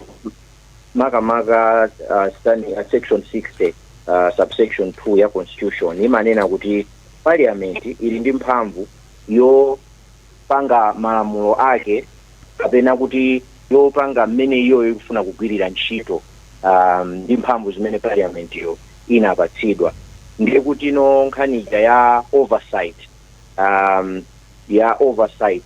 makamaka uh, stand, uh, section 60 uh, subsection 2 ya constitution imanena kuti parliament ili ndi mphamvu yopanga malamulo ake kapena kuti yopanga mmene iyoyo ikufuna kugwirira ntchito um, ndi mphamvu zimene parliament yo inapatsidwa ndiye kutino nkhani ija ya oversight um, ya oversight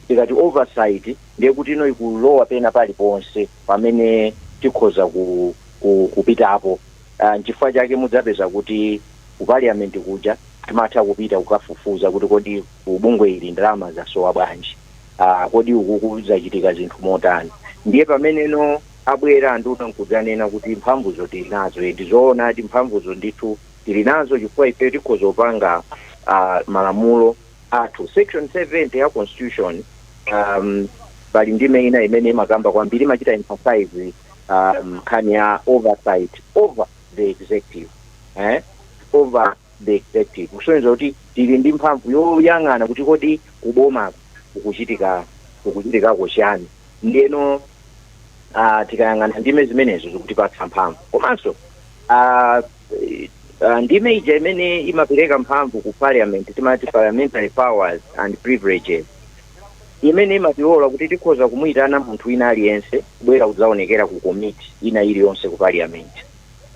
Tikati oversight ndiye kutino ikulowa pena paliponse pamene tikhoza ku, ku, kupitapo. Uh, nchifukwa chake mudzapeza kuti ku parliament kuja timatha kupita kukafufuza kuti kodi ku bungwe ili ndalama zasowa bwanji, uh, kodi ukuku zachitika zinthu motani. Ndiye pameneno abwera anduna nkudzanena kuti mphamvuzo tili nazo, ndi zoonadi mphamvuzo ndithu tili nazo chifukwa ifeyo tikhoza kupanga uh, malamulo. athu. Section 70 ya constitution um, pali ndime ina imene imakamba kwambiri imachita emphasize um, nkhani ya oversight over the executive eh? over the executive kusonyeza kuti tili ndi mphamvu yoyang'ana kuti kodi kubomako kukuchitika kukuchitikako chiyani ndiyeno uh, tikayang'ana ndime zimenezo zikutipatsa mphamvu komanso uh, Uh, ndime ija imene imapereka mphamvu ku parliament timati parliamentary powers and privileges imene imatilola kuti tikhoza kumuyitana munthu wina aliyense kubwera kudzaonekera ku committee ina iliyonse ku parliament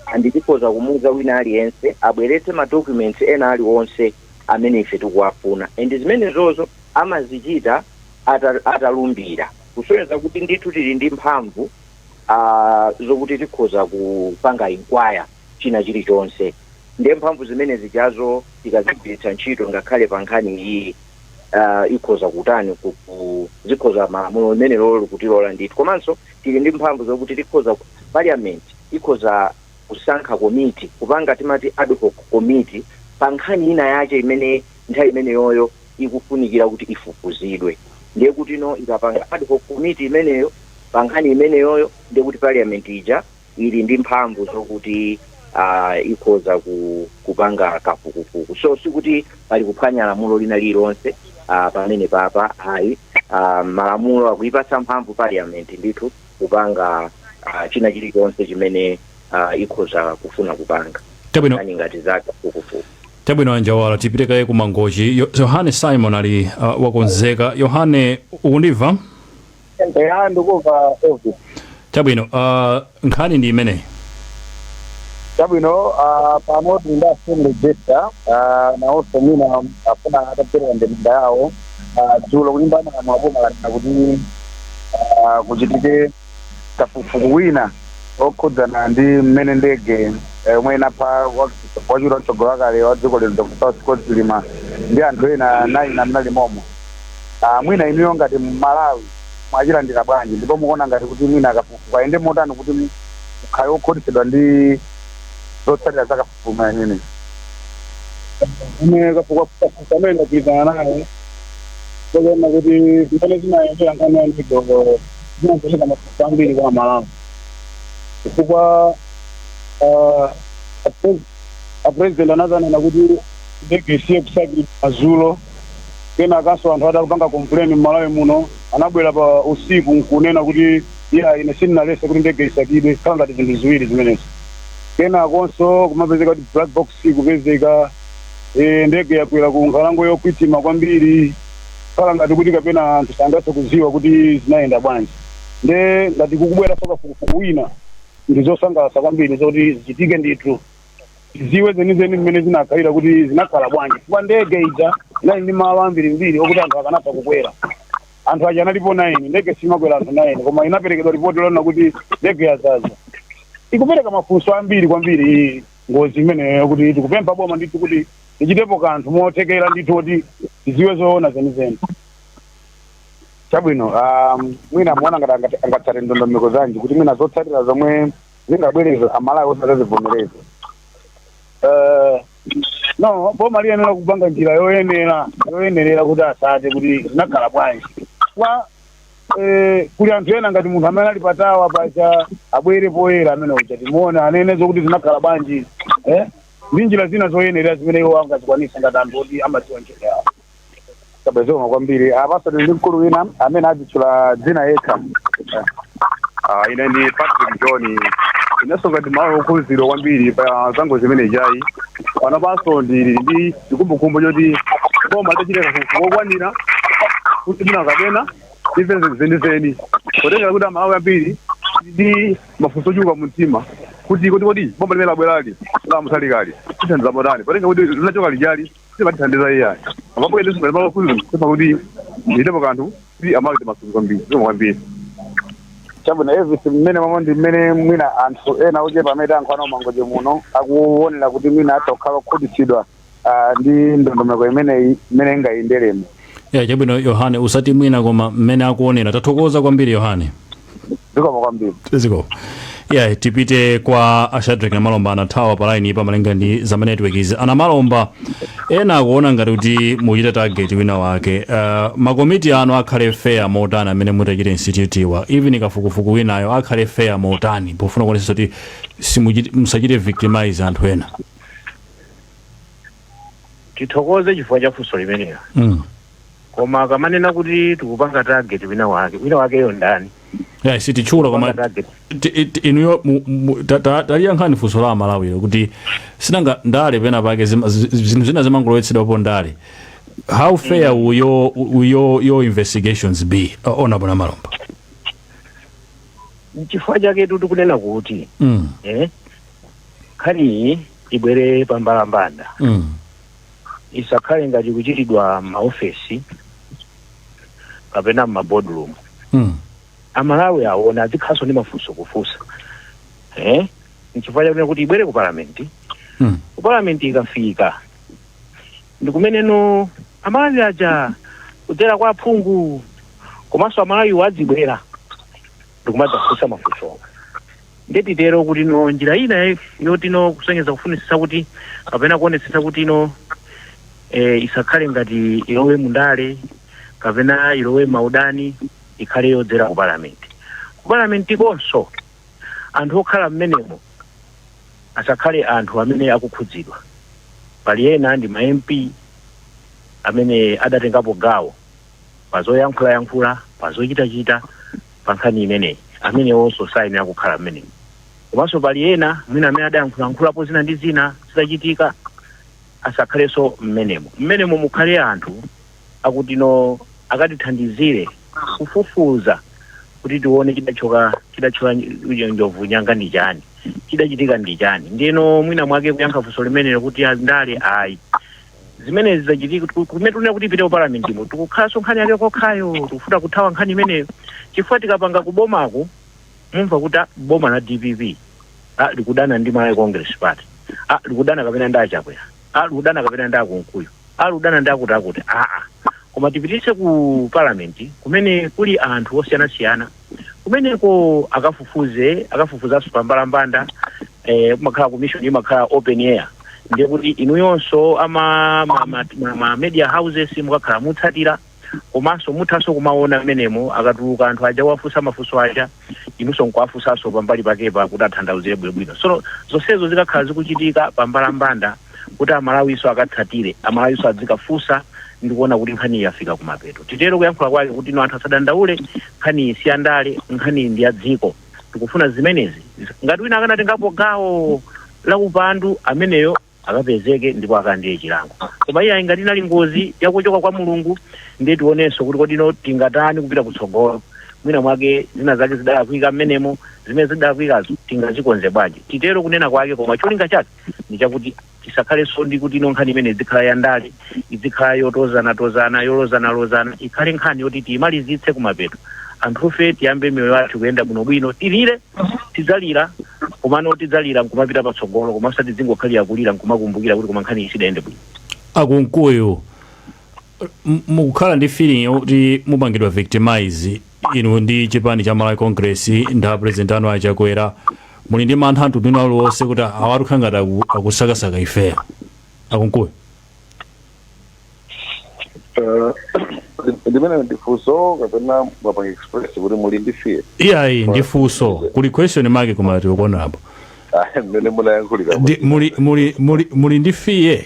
and tikhoza kumuuza wina aliyense abweretse ma documents ena aliwonse amene ife tikuwafuna and zimenezozo amazichita ata- atalumbira kusonyeza kuti ndithu tili ndi mphamvu uh, zokuti tikhoza kupanga inquire china chilichonse ndiye mphamvu zimene zijazo tikazigwiritsa ntchito ngakhale pa nkhani iyi uh, ikhoza kutani ku- ku- zikhoza malamulo limene lolo likutilola ndithu komanso tili ndi mphamvu zokuti tikhoza ku- parliament ikhoza kusankha committee kupanga timati ad hoc committee pa nkhani ina yache imene nthawi imeneyoyo ikufunikira kuti ifufuzidwe ndiye kutino ikapanga ad hoc committee imeneyo pa nkhani imeneyoyo ndiye kuti parliament ija ili ndi mphamvu zokuti uh, ikhoza ku, kupanga kafukufuku so sikuti pali kuphwanya lamulo lina lililonse uh, pamene papa ayi uh, malamulo akuipatsa mphamvu parliament ndithu kupanga uh, china chilichonse chimene uh, ikhoza kufuna kupanga Chabwino. Nkhani ngati za kafukufuku Chabwino anjawala, tipite kaye ku Mangochi. Yo- Yohane Simon ali uh, wakonzeka. Yohane, ukundimva? eya ndikuva Elvis Chabwino, uh, nkhani ndi imeneyi. chabwino ah, pano tinda assembly gesture ah, nawonso mwina afuna ataperekako ndemanga yawo Ah, dzulo kulimbana na maboma lanena kuti ah, kuchitike kafukufuku wina okhudzana ndi mmene ndege eh, yomwe inapha wa- wachiwiri kwa mtsogoleri wakale wa dziko lino dr Saulos Klaus Chilima ndi anthu ena 9 omwe anali momo Ah, mwina inuyo ngati mmalawi mwachilandira bwanji ndipo mukuona ngati kuti mwina kafukufuku ayende motani kuti mukhale okhutitsidwa ndi zotsatira za kafukufuku koma amene amene kafukufuku amene ndagwirizana naye koona kuti zimene zinayendera nkhani ya ndege zinapereka mafunso ambiri kwa amalawi chifukwa ah, apre- apresident anazanena kuti ndege isiye kusakira madzulo kenakanso anthu atapanga complain mmalawi muno anabwera pa usiku nkunena kuti iya ine sindinalese kuti ndege isakidwe khala ngati zinthu ziwiri zimenezo kenakonso kumapezeka kuti black box sikupezeka eh, ndege yagwera ku nkhalango yokwitima kwambiri khala ngati kuti kapena anthu sangathe kuziwa kuti zinayenda bwanji nde ngati kukubwera sokafukufuku wina ndi zosangalatsa kwambiri zoti zichitike ndithu tiziwe zenizeni mmene zinakhalira kuti zinakhala bwanji chifukwa ndege ija inali ndi malo ambirimbiri okuti anthu akanatha kukwera anthu aja analipo 9 ndege simakwera anthu 9 koma inaperekedwa ripoti lonena kuti ndege yazaza ikupereka mafunso ambiri kwambiri iyi ngozi imeneyo kuti tikupempha boma ndithu kuti lichitepo kanthu mothekera ndithu kuti tiziwe zoona zenizeni chabwino um, mwina muona ngati angati- angatsate ndondomeko zanji kuti mwina zotsatira zomwe zingabwerezo amalawi onse azazivomereze Eh, no boma liyeneno kupanga njira yoyenera yoyenerera kuti asate kuti zinakhala bwanji kwa eh, kuli anthu ena ngati munthu amene ali patawa paja abwere poyera amene uja timuone anene zokuti zinakhala bwanji eh? ndi njira zina zoyenerera zimene iwo angazikwanisa ngati anthu oti amadziwa ntchito yawo chabwino zikomo kwambiri apaso tili ndi mkulu wina amene adzitchula dzina yekha Ah, ine ndi patrick john inenso ngati mmalawi okhuzidwa kwambiri pa za ngozi imene ijayi pano panso ndili ndi chikumbukumbu choti boma litachita kafukufuku wokwanira kuti mwina kapena tiziwe zenizeni potengera kuti amalawi ambiri ndi mafunso ochuluka mu mtima kuti kuti kodi boma limene labwerali lamusalikali tithandiza motani potenga kuti linachoka lija li simatithandiza iyayi apapo ene simene makuzi kusepa kuti itepo kanthu kuti amawiri masuku kwambiri zomwe kwambiri chabwino evisi mmene momo ndi mmene mwina anthu ena ochepa amene ankhwana umangoje muno akuonera kuti mwina atha kukhala okhutitsidwa ah, ndi ndondomeko imeneyi imene ingayenderemo ya chabwino yohane usati mwina koma mmene akuonera tathokoza kwambiri yohane zikomo kwambiri ziko ya tipite kwa ashadrek namalomba anathawa pa line ipa malinga ndi zama network izi anamalomba ena akuona ngati kuti muchita target wina wake uh, makomiti anu akhale fair motani amene mutachita institute wa even kafukufuku winayo akhale fair motani pofuna kuonesa kuti simuchite- musachite victimize anthu ena tithokoze chifukwa cha funso limenelo mm. koma akamanena kuti tikupanga target wina wake wina wakeyo ndani yeah, sititchula koma Kupanga target. ti- ti- inuyo mu- mu- ta- ta- taliyankhani funso la amalawilo kuti sinanga ndale pena pake zima- zi- zi- zinthu zina zimangolowetsedwapo ndale how fair will your, will your, your investigations be uh, honorable namalomba chifukwa chake tu tikunena kuti mm. eh, nkhaniyi ibwere pa mbalambanda Mm. isakhale ngati kuchitidwa m'maofesi kapena m'maboardroom Mm. amalawi aone azikhalanso ndi mafunso kufunsa eh? nchifukwa chakuti kuti ibwere ku palamenti Mm. ku palamenti ikafika ndi kumene no amalawi aja kudzera kwa aphungu komanso amalawiwo adzibwera ndikumadzafunsa mafunsowa nde titero kuti no njira ina ye- yoti no kusonyeza kufunitsitsa kuti kapena kuonetsetsa kuti no eh, isakhale ngati ilowe mundale kapena ilowe m'maudani ikhale yodzera ku palamenti ku palamenti konso anthu okhala mmenemo asakhale anthu amene akukhudzidwa pali ena ndi ma mp amene adatengapo gawo pa zoyankhulayankhula pa zochitachita pa nkhani imeneyi amenewonso sayenera kukhala mmenemo komanso pali ena mwina amene adayankhulayankhulapo zina ndi zina zidachitika asakhalenso mmenemo mmenemo mukhale anthu akuti no akatithandizire kufufuza kuti tione chidatsitsa chidatchola nj- njovu nyanga ndi chani chidachitika ndi chani ndiyeno mwina mwake kuyankha funso limenelo kuti andale ayi zimenezi zachitika tiku- kumene tikufuna kuti ipite ku parliament mo tikukhalanso nkhani yake kokhayo tikufuna kuthawa nkhani imeneyo chifukwa tikapanga kubomako mumva kuti ah, boma la dpp ah, likudana ndi malawi congress party ah, likudana kapena ndi achakwera ah, likudana kapena ndi akunkuyu ah, likudana ndi akutiakuti aa koma tipititse ku parliament kumene kuli anthu osiyanasiyana kumeneko akafufuze akafufuzanso pa mbalambanda eh, kumakhala commission imakhala open air ndiye kuti inuyonso ama ma, ma, ma, ma media houses mukakhala mukutsatira komanso muthanso kumaona mmenemo akatuluka anthu aja kuwafunsa mafunso aja inunso nkuwafunsanso pambali pakepo kuti atanthauzire bwinobwino so zonsezo zikakhala zikuchitika pa mbalambanda kuti Amalawinso akatsatire, Amalawinso adzikafunsa ndi kuona kuti nkhaniyi yafika kumapeto. Titero kuyankhula kwake kuti no anthu asadandaule, nkhaniyi si ya ndale, nkhaniyi ndi ya dziko. Tikufuna zimenezi. Ngati wina akanatengapo gawo la upandu, ameneyo akapezeke ndipo akalandire chilango. Koma iyayi, ngati inali ngozi ya kuchoka kwa Mulungu, ndiye tionenso kuti kodi no tingatani kupita kutsogolo. Mwina mwake zina zake zidalakwika m'menemo, zimene zidalakwikazo tingazikonze bwanji? Titero kunena kwake, koma cholinga chake. ndi chakuti tisakhalenso ndi kuti no nkhani imene idzikhala ya ndale idzikhala yotozanatozana yolozanalozana ikhale nkhani yoti tiyimalizitse kumapeto anthufe tiyambe miyoyo yathu kuyenda bwinobwino tilire tidzalira komano tidzalira nkumapita patsogolo koma osati tidzingokhalira kulira nkumakumbukira kuti koma nkhani iyi sidayende bwino a Kunkuyu m- mukukhala ndi feeling yoti mupangidwa victimize Inu ndi chipani cha Malawi Congress ndi a president anu a Chakwera muli ndi mantha a mtundu wina uliwonse kuti awatu akukhala ngati aku, akusakasaka ifeyo a Kunkuyu? Eh, limenelo ndi funso kapena mwapanga express kuti muli ndi fear Iyayi ndi funso kuli question mark koma tikuonapo. Ah, mmene munayankhulira Ndi- Muli muli muli muli ndi fear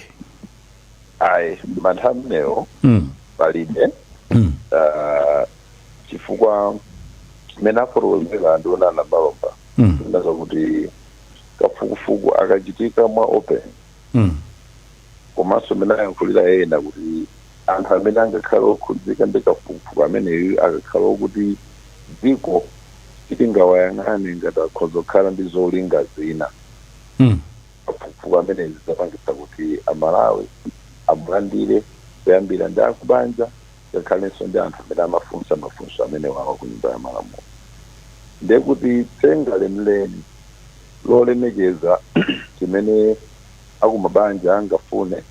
ayi mantha amenewo mm. palibe mm. uh, chifukwa mmene afotokozera nduna a Nyamilandu mm. nza kuti kafukufuku akachitika mwa open mm. komanso mmene ayankhulira ena kuti anthu amene angakhale okhudzika ndi kafukufuku ameneyu akakhale okuti dziko sitingawayang'ane ngati akhoza kukhala ndi zolinga zina mm. kafukufuku ameneyu adzapangitsa kuti a Malawi amulandire kuyambira ndi akubanja ngakhalenso ndi anthu amene amafunsa mafunso amenewawa ku nyumba ya malamulo ndiye kuti tsinde lenileni lolemekeza chimene akumabanja angafune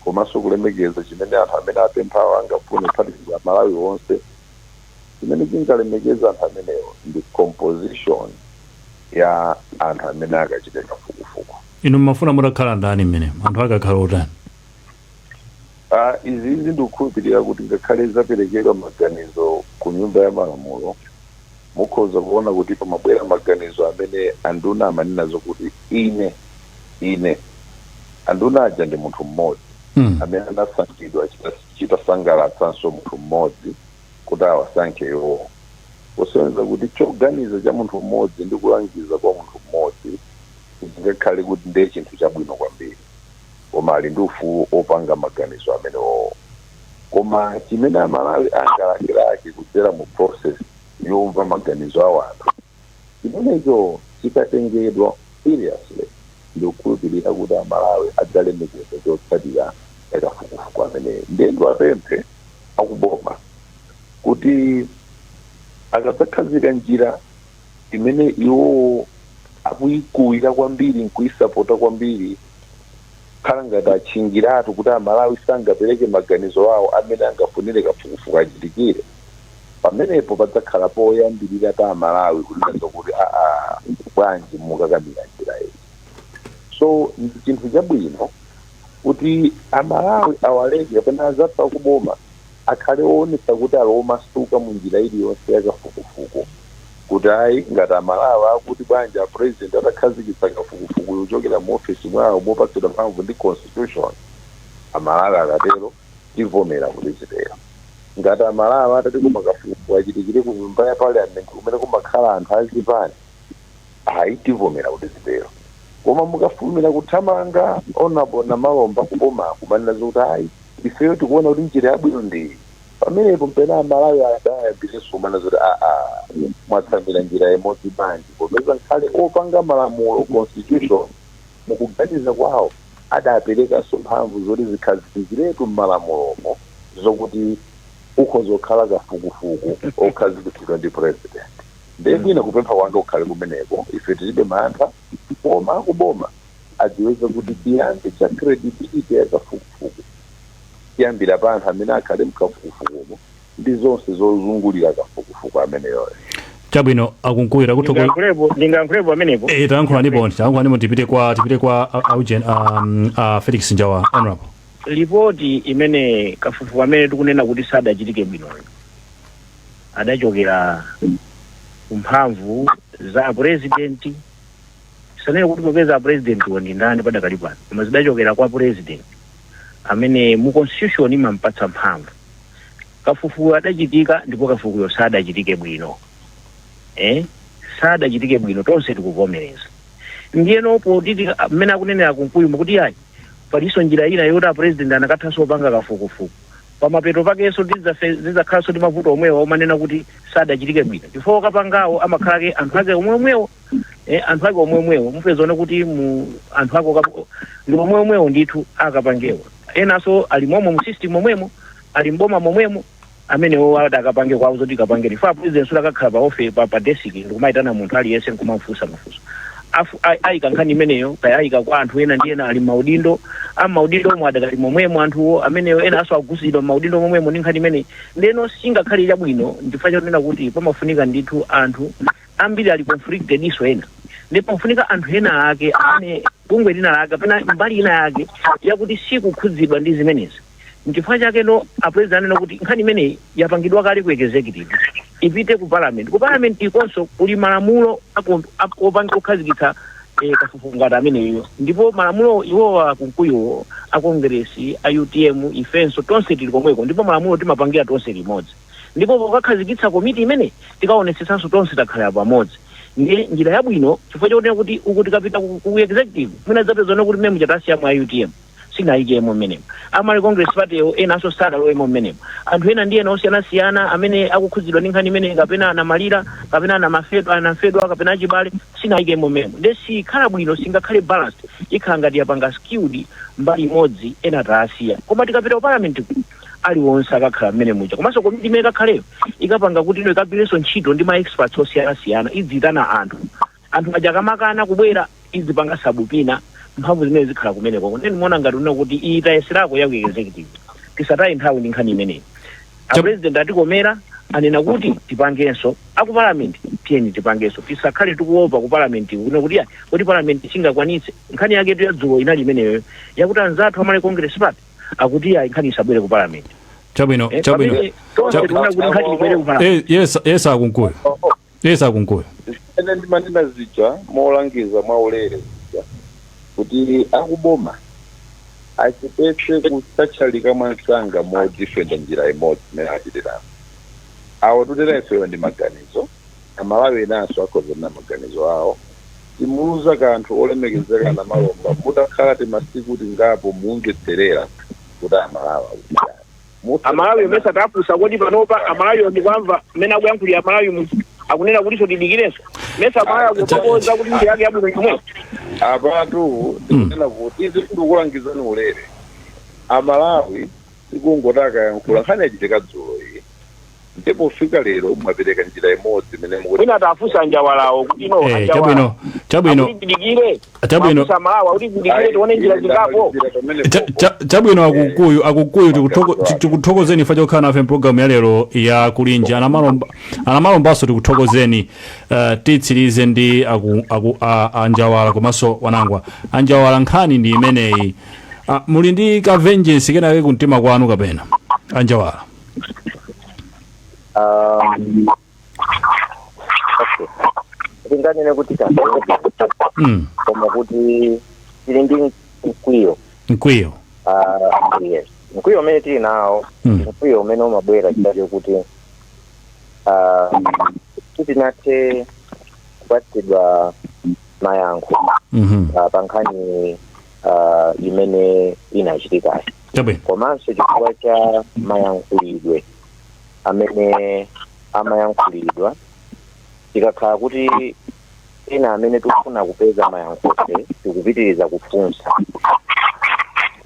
komanso kulemekeza chimene anthu amene apemphawo angafune kuphatikiza a Malawi onse chimene chingalemekeze anthu amenewo ndi composition ya anthu amene akachite kafukufuku inu mumafuna mutakhala ndani mmenemo anthu akakhale otani Ah, izi izi ndikukhulupirira kuti ngakhale zaperekedwa maganizo ku nyumba ya malamulo mukhoza kuona kuti pamabwera maganizo amene anduna amanena zokuti ine ine anduna aja ndi munthu mmodzi mm. amene anasankhidwa chita- chitasangalatsanso munthu mmodzi kuti awasankhe iwowo, kusonyeza kuti choganiza cha munthu mmodzi ndi kulangiza kwa munthu mmodzi singakhale kuti ndiye chinthu chabwino kwambiri, koma ali ndi ufulu opanga maganizo amenewowo. Koma chimene Amalawi angalakelake kudzera mu process yomva maganizo a wanthu, Chimenecho chikatengedwa seriously ndikukhulupilira kuti a Malawi adzalemekeza chotsatira cha kafukufuku ameneyu. Ndiye ndiwapemphe aku boma kuti akadzakhazika njira imene iwowo akuikuwira kwambiri nkuisapota kwambiri kukhala ngati atchingiratu kuti a Malawi sangapereke maganizo awo amene angafunire kafukufuku achitikire, pamenepo padzakhala poyambirira pa amalawi kunena zokuti aa bwanji mukakamira njira iyi so ndi chinthu chabwino kuti amalawi awaleke kapena azathu akuboma akhale oonetsa kuti ali omasuka mu njira iliyonse yakafukufuku kuti ayi ngati amalawi akuti bwanji apresident atakhazikitsa kafukufuku yochokera mu ofesi mwawo mopatsidwa mphamvu ndi constitution amalawi akatero tivomera kuti zitero ngati amalawi atati koma kafukufuku achitikire ku nyumba ya parliament kumene kumakhala anthu azipani ayi tivomera kuti zitero koma mukafulumira kuthamanga monga mwanenamo mbali ya kuboma kumanena zokuti ayi ifeyo tikuona kuti njira yabwino ndiyi pamenepo mpena amalawi adzayambirenso kumana zoti aa mwatsamira njira imodzi bwanji popeza nkhale opanga malamulo constitution mukuganiza kwawo adaperekanso mphamvu zoti zikhazikikiretu m'malamulomo zokuti ukhoza kukhala kafukufuku okhazikitsidwa ndi president ndiye mwina kupempha kwanga kukhale kumeneko ife tilibe mantha koma akuboma adziwe kuti chiyambi cha credibility ya kafukufuku chiyambira pa anthu amene akhale mkafukufukumo ndi zonse zozungulira kafukufuku ameneyoyo. Chabwino a Kunkuyu takuthokoza. Ndingayankhulepo, ndingayankhulepo pamenepo. Eh, tayankhulanipo, tayankhulanipo tipite kwa tipite kwa a- a Eugene, a, mm, a Felix Njawala honorable. lipoti imene kafukufuku amene tikunena kuti sadachitike bwinoyo adachokera kumphamvu za apurezidenti sitinene kuti popeza apurezidentiwo ndi ndani padakali pano koma zidachokera kwa purezidenti amene mu Constitution imampatsa mphamvu. Kafukufukuyu adachitika ndipo kafukufukuyo sadachitike bwino. Eh? Sadachitike bwino tonse tikuvomereza. Ndiyeno poti tika- mmene akunenera a Kunkuyumu kuti ayi palinso njira ina yoti a president anakathanso opanga kafukufuku. Pamapeto pakenso tidzafe- zidzakhalanso ndi mavuto omwewa omanena kuti sadachitike bwino. Chifukwa okapangawo amakhala ake anthu ake omwe omwewo eh, anthu ake omwe omwewo mupeza zona kuti mu anthu ake okap- ndi omwe omwewo ndithu akapangewo enanso ali momwe mu system momwemo ali mboma momwemo amenewo adakapange kwawo zoti kapange chifukwa president sadzakakhala pa ofe pa, pa desk ndikumayitana munthu aliyense nkumamufunsa mafunso Afu- ai- ayika nkhani imeneyo kaya ayika kwa anthu ena ndi ena ali maudindo a maudindo omwe adakali momwemo anthuwo amenewo enanso akhudzidwa maudindo momwemo ndi nkhani imeneyi ndeno singakhale chabwino chifukwa chonena kuti pamafunika ndithu anthu ambiri ali conflicted enanso ena ndipo pafunika anthu ena ake amene bungwe lina lake kapena mbali ina yake yakuti sikukhudzidwa ndi zimenezi nchifukwa chake apulezidenti anena kuti nkhani imeneyi yapangidwa kale ku executive ipite ku parliament ku parliament ukonso kuli malamulo ako- ako- opanga kukhazikitsa eh, kafukufuku ngati ameneyo ndipo malamulo iwowa Ankunkuyu a kongresi a utm ifenso tonse tili komweko ndipo malamulo timapangira tonse limodzi Ndipo pokakhazikitsa komiti imene tikaonetsetsanso tonse takhalirana pamodzi. Ndiye njira yabwino chifukwa chonena kuti uku tikapita ku, ku executive mwina tidzapeza kunena kuti mmene muja tasiyamo a utm sinayikemo mmenemo a Malawi Congress Party iwo enanso sadalowemo mmenemo anthu ena ndi ena osiyanasiyana amene akukhudzidwa ndi nkhani imeneyi kapena anamalira kapena anamafedwa anamfedwa kapena achibale sinayikemo mmenemo nde sikhala bwino singakhale balanced ikhala ngati yapanga skewed mbali imodzi ena taasiya koma tikapita ku parliament ku- aliwonse akakhala mmene muja komanso komiti imene ikakhaleyo ikapanga kuti iwo ikagwirenso ntchito ndi ma experts osiyanasiyana idziyitana anthu anthu aja akamakana kubwera idzipanga sabupina mphamvu zimene zikhala kumeneko ndiye ndimaona ngati kunena kuti iyi tayeserako ya ku executive tisataye nthawi ndi nkhani imeneyi Chap- apresident atikomera anena kuti tipangenso aku parliament tiyeni tipangenso tisakhale tikuopa ku parliament kuno kuti ayi, kuti parliament singakwanitse nkhani yaketu yadzulo inali imeneyo yakuti anzathu a Malawi congress party akuti ayi nkhani isabwere ku parliament chabwino Eh, chabwino pamene tonse Chab- tikuona kuti nkhani ibwere ku parliament Eh, yes yes Ankunkuyu yes Ankunkuyu zimene ndimanena zija molangiza mwaulere zija kuti akuboma achepetse kutchatchalika mwansanga modzidifenda njira imodzi imene achitira anawo mukutsekera ifeyo ndi maganizo amalawi enanso akhoza kunena maganizo awo simuuza kanthu olemekezeka Namalomba mutakhala timasiku tingapo mumvetserera kuti amalawi akutani Mutha- amalawi mesa tafunsa kodi panopa amalawi ndikuwamva mmene akuyankhulira amalawi munthu akunena kutinso tidikirenso mesa amalawi akutokoza kuti nkhani yake yabwino chomwecho apatu ndikunena kuti izi ndikukulangizani ulere amalawi sikungoti akayankhula nkhani yachitika dzulo iyi ndiye pofika lero mwapereka njira imodzi imene mukuti mwina atafunsa anjawalawo kuti no Eh, a Njawala chabwino chabwino akuti tidikire Chabwino. mwafunsa a Njawala akuti tidikire tione njira zingapo Cha- cha- chabwino a Kunkuyu a Kunkuyu tikutoko- ti- tikuthokozeni chifukwa chokhala nafe mpulogalamu ya lero ya Kulinji a Namalomba a Namalombanso tikuthokozeni eh, titsirize ndi aku- aku- a- a Njawala komanso Wanangwa a Njawala nkhani ndi imeneyi Ah, muli ndi ka vengeance kenakake kumtima kwanu kapena a Njawala Um, okay. tinganene kuti kasopa mm. koma kuti tili ndi mkwiyo mkwiyo Ah, yes mkwiyo umene tili nawo Mm. mkwiyo umene umabwera chifukwa chokuti ah, sitinathe kupatsidwa mayankho mhm, ah, pa nkhani ah, imene inachitikayi chabwino komanso chifukwa cha mayankhulidwe amene amayankhulidwa tikakhala kuti ena amene tikufuna kupeza mayankhofe tikupitiriza kufunsa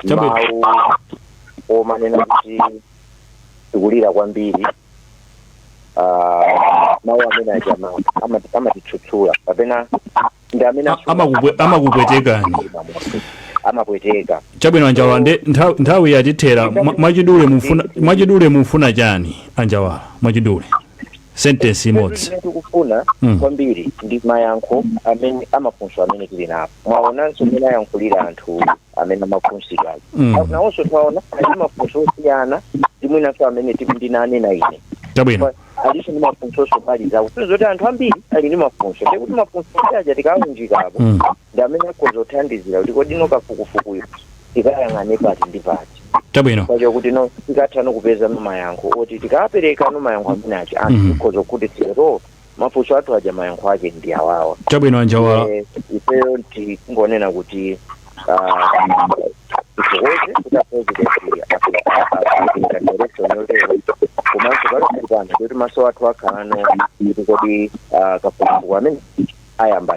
Chabwino. mawu omanena kuti tikulira kwambiri ah, mawu amene aja ama- ama- amatitsutsa kapena ndi amene A- asunga- amakupwe- ama- amakupwetekani. ama- amapweteka chabwino a Njawala nde ntha- nthawi yatithera Mwa- mwachidule mufuna mwachidule mufuna chani a Njawala mwachidule sentence imodzi Imene tikufuna Mm. kwambiri ndi mayankho amene amafunso amene tili nawo mwaonanso mmene ayankhulira anthu amene amafunsidwa Mm. Na- nawonso twaona ali ndi mafunso osiyana ndi mwinanso amene tili ndinanena ine chabwino Kwa- alinso ndi mafunso osonyeza kuti zoti anthu ambiri ali ndi mafunso ndiye kuti mafunso aja tikaunjikapo Mm. ndi amene akhoza kuthandizira kuti kodi no kafukufukuyu tikayang'ane pati ndi pati chabwino kwacho kuti no tikatha no kupeza mayankho oti tikapereka no mayankho amene aja Mhm. anthu tikhoza kukhutitsidwa kuti mafunso athu aja mayankho ake ndi awawa chabwino a Njawala Eh, ifeyo tingonena kuti zikuweze kuti apresidenti atenga direction yotero komanso pali kupanga kuti maso athu akhalano kuti kodi ah, kafukufuku amene ayamba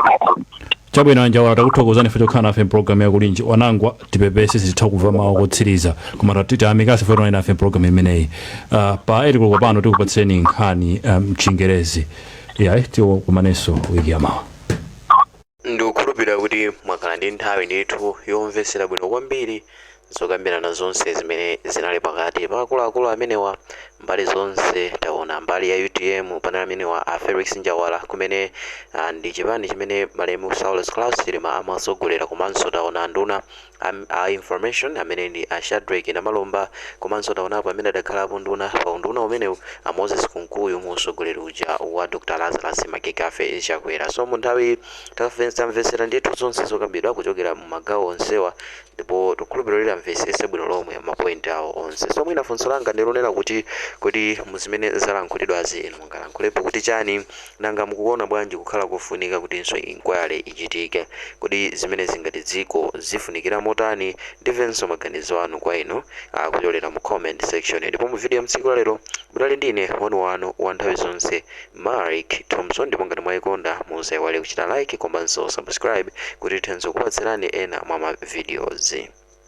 chabwino a Njawala takuthokozani chifukwa chokhala nafe mpulogalamu ya Kulinji Wanangwa tipepese sititha kumva mawu otsiriza koma tatiti amikasi chifukwa chokhala nafe mpulogalamu imeneyi uh, pa 8 koloko pano tikupatseni nkhani mchingerezi um, yayi tikumanenso wiki yamawa Ndikukhulupirira kuti mwakhala ndi nthawi ndithu yomvetsera bwino kwambiri zokambirana zonse zimene zinali pakati pa akuluakulu amenewa mbali zonse. Taona mbali ya UTM panali amenewa a Felix Njawala komwe ah, ndi chipani chimene malemu Saulos Klaus Chilima amatsogolera komanso taona anduna Am, a information amene ndi a Shadreck Namalomba komanso taonapo amene adakhalapo nduna pa unduna umenewu a Moses Kunkuyu mu usogoleri uja wa Dr. Lazarus McCarthy Chakwera. So munthawi tamvetsera ndithu zonse zokambidwa kuchokera mu magawo onsewa ndipo tikukhulupirira kuti mwamvetsetsa bwino lomwe ma point awo onse. So mwina funso langa ndilonena kuti kodi muzimene zalankhulidwazi inu mungalankhulepo kuti chani? Nanga mukuona bwanji kukhala kofunika kutinso inquiry ichitike? Kodi zimenezi ngati dziko zifunikira motani? Ndimvenso maganizo anu kwa inu kupyolera mu comment section. Ndipo mu video ya mtsiku la lero munali ndi ine wanu wanu wa nthawi zonse Mark Thompson ndipo ngati mwaikonda musaiwale kuchita like komanso subscribe kuti tithenso kupatsirani ena mwa ma videos.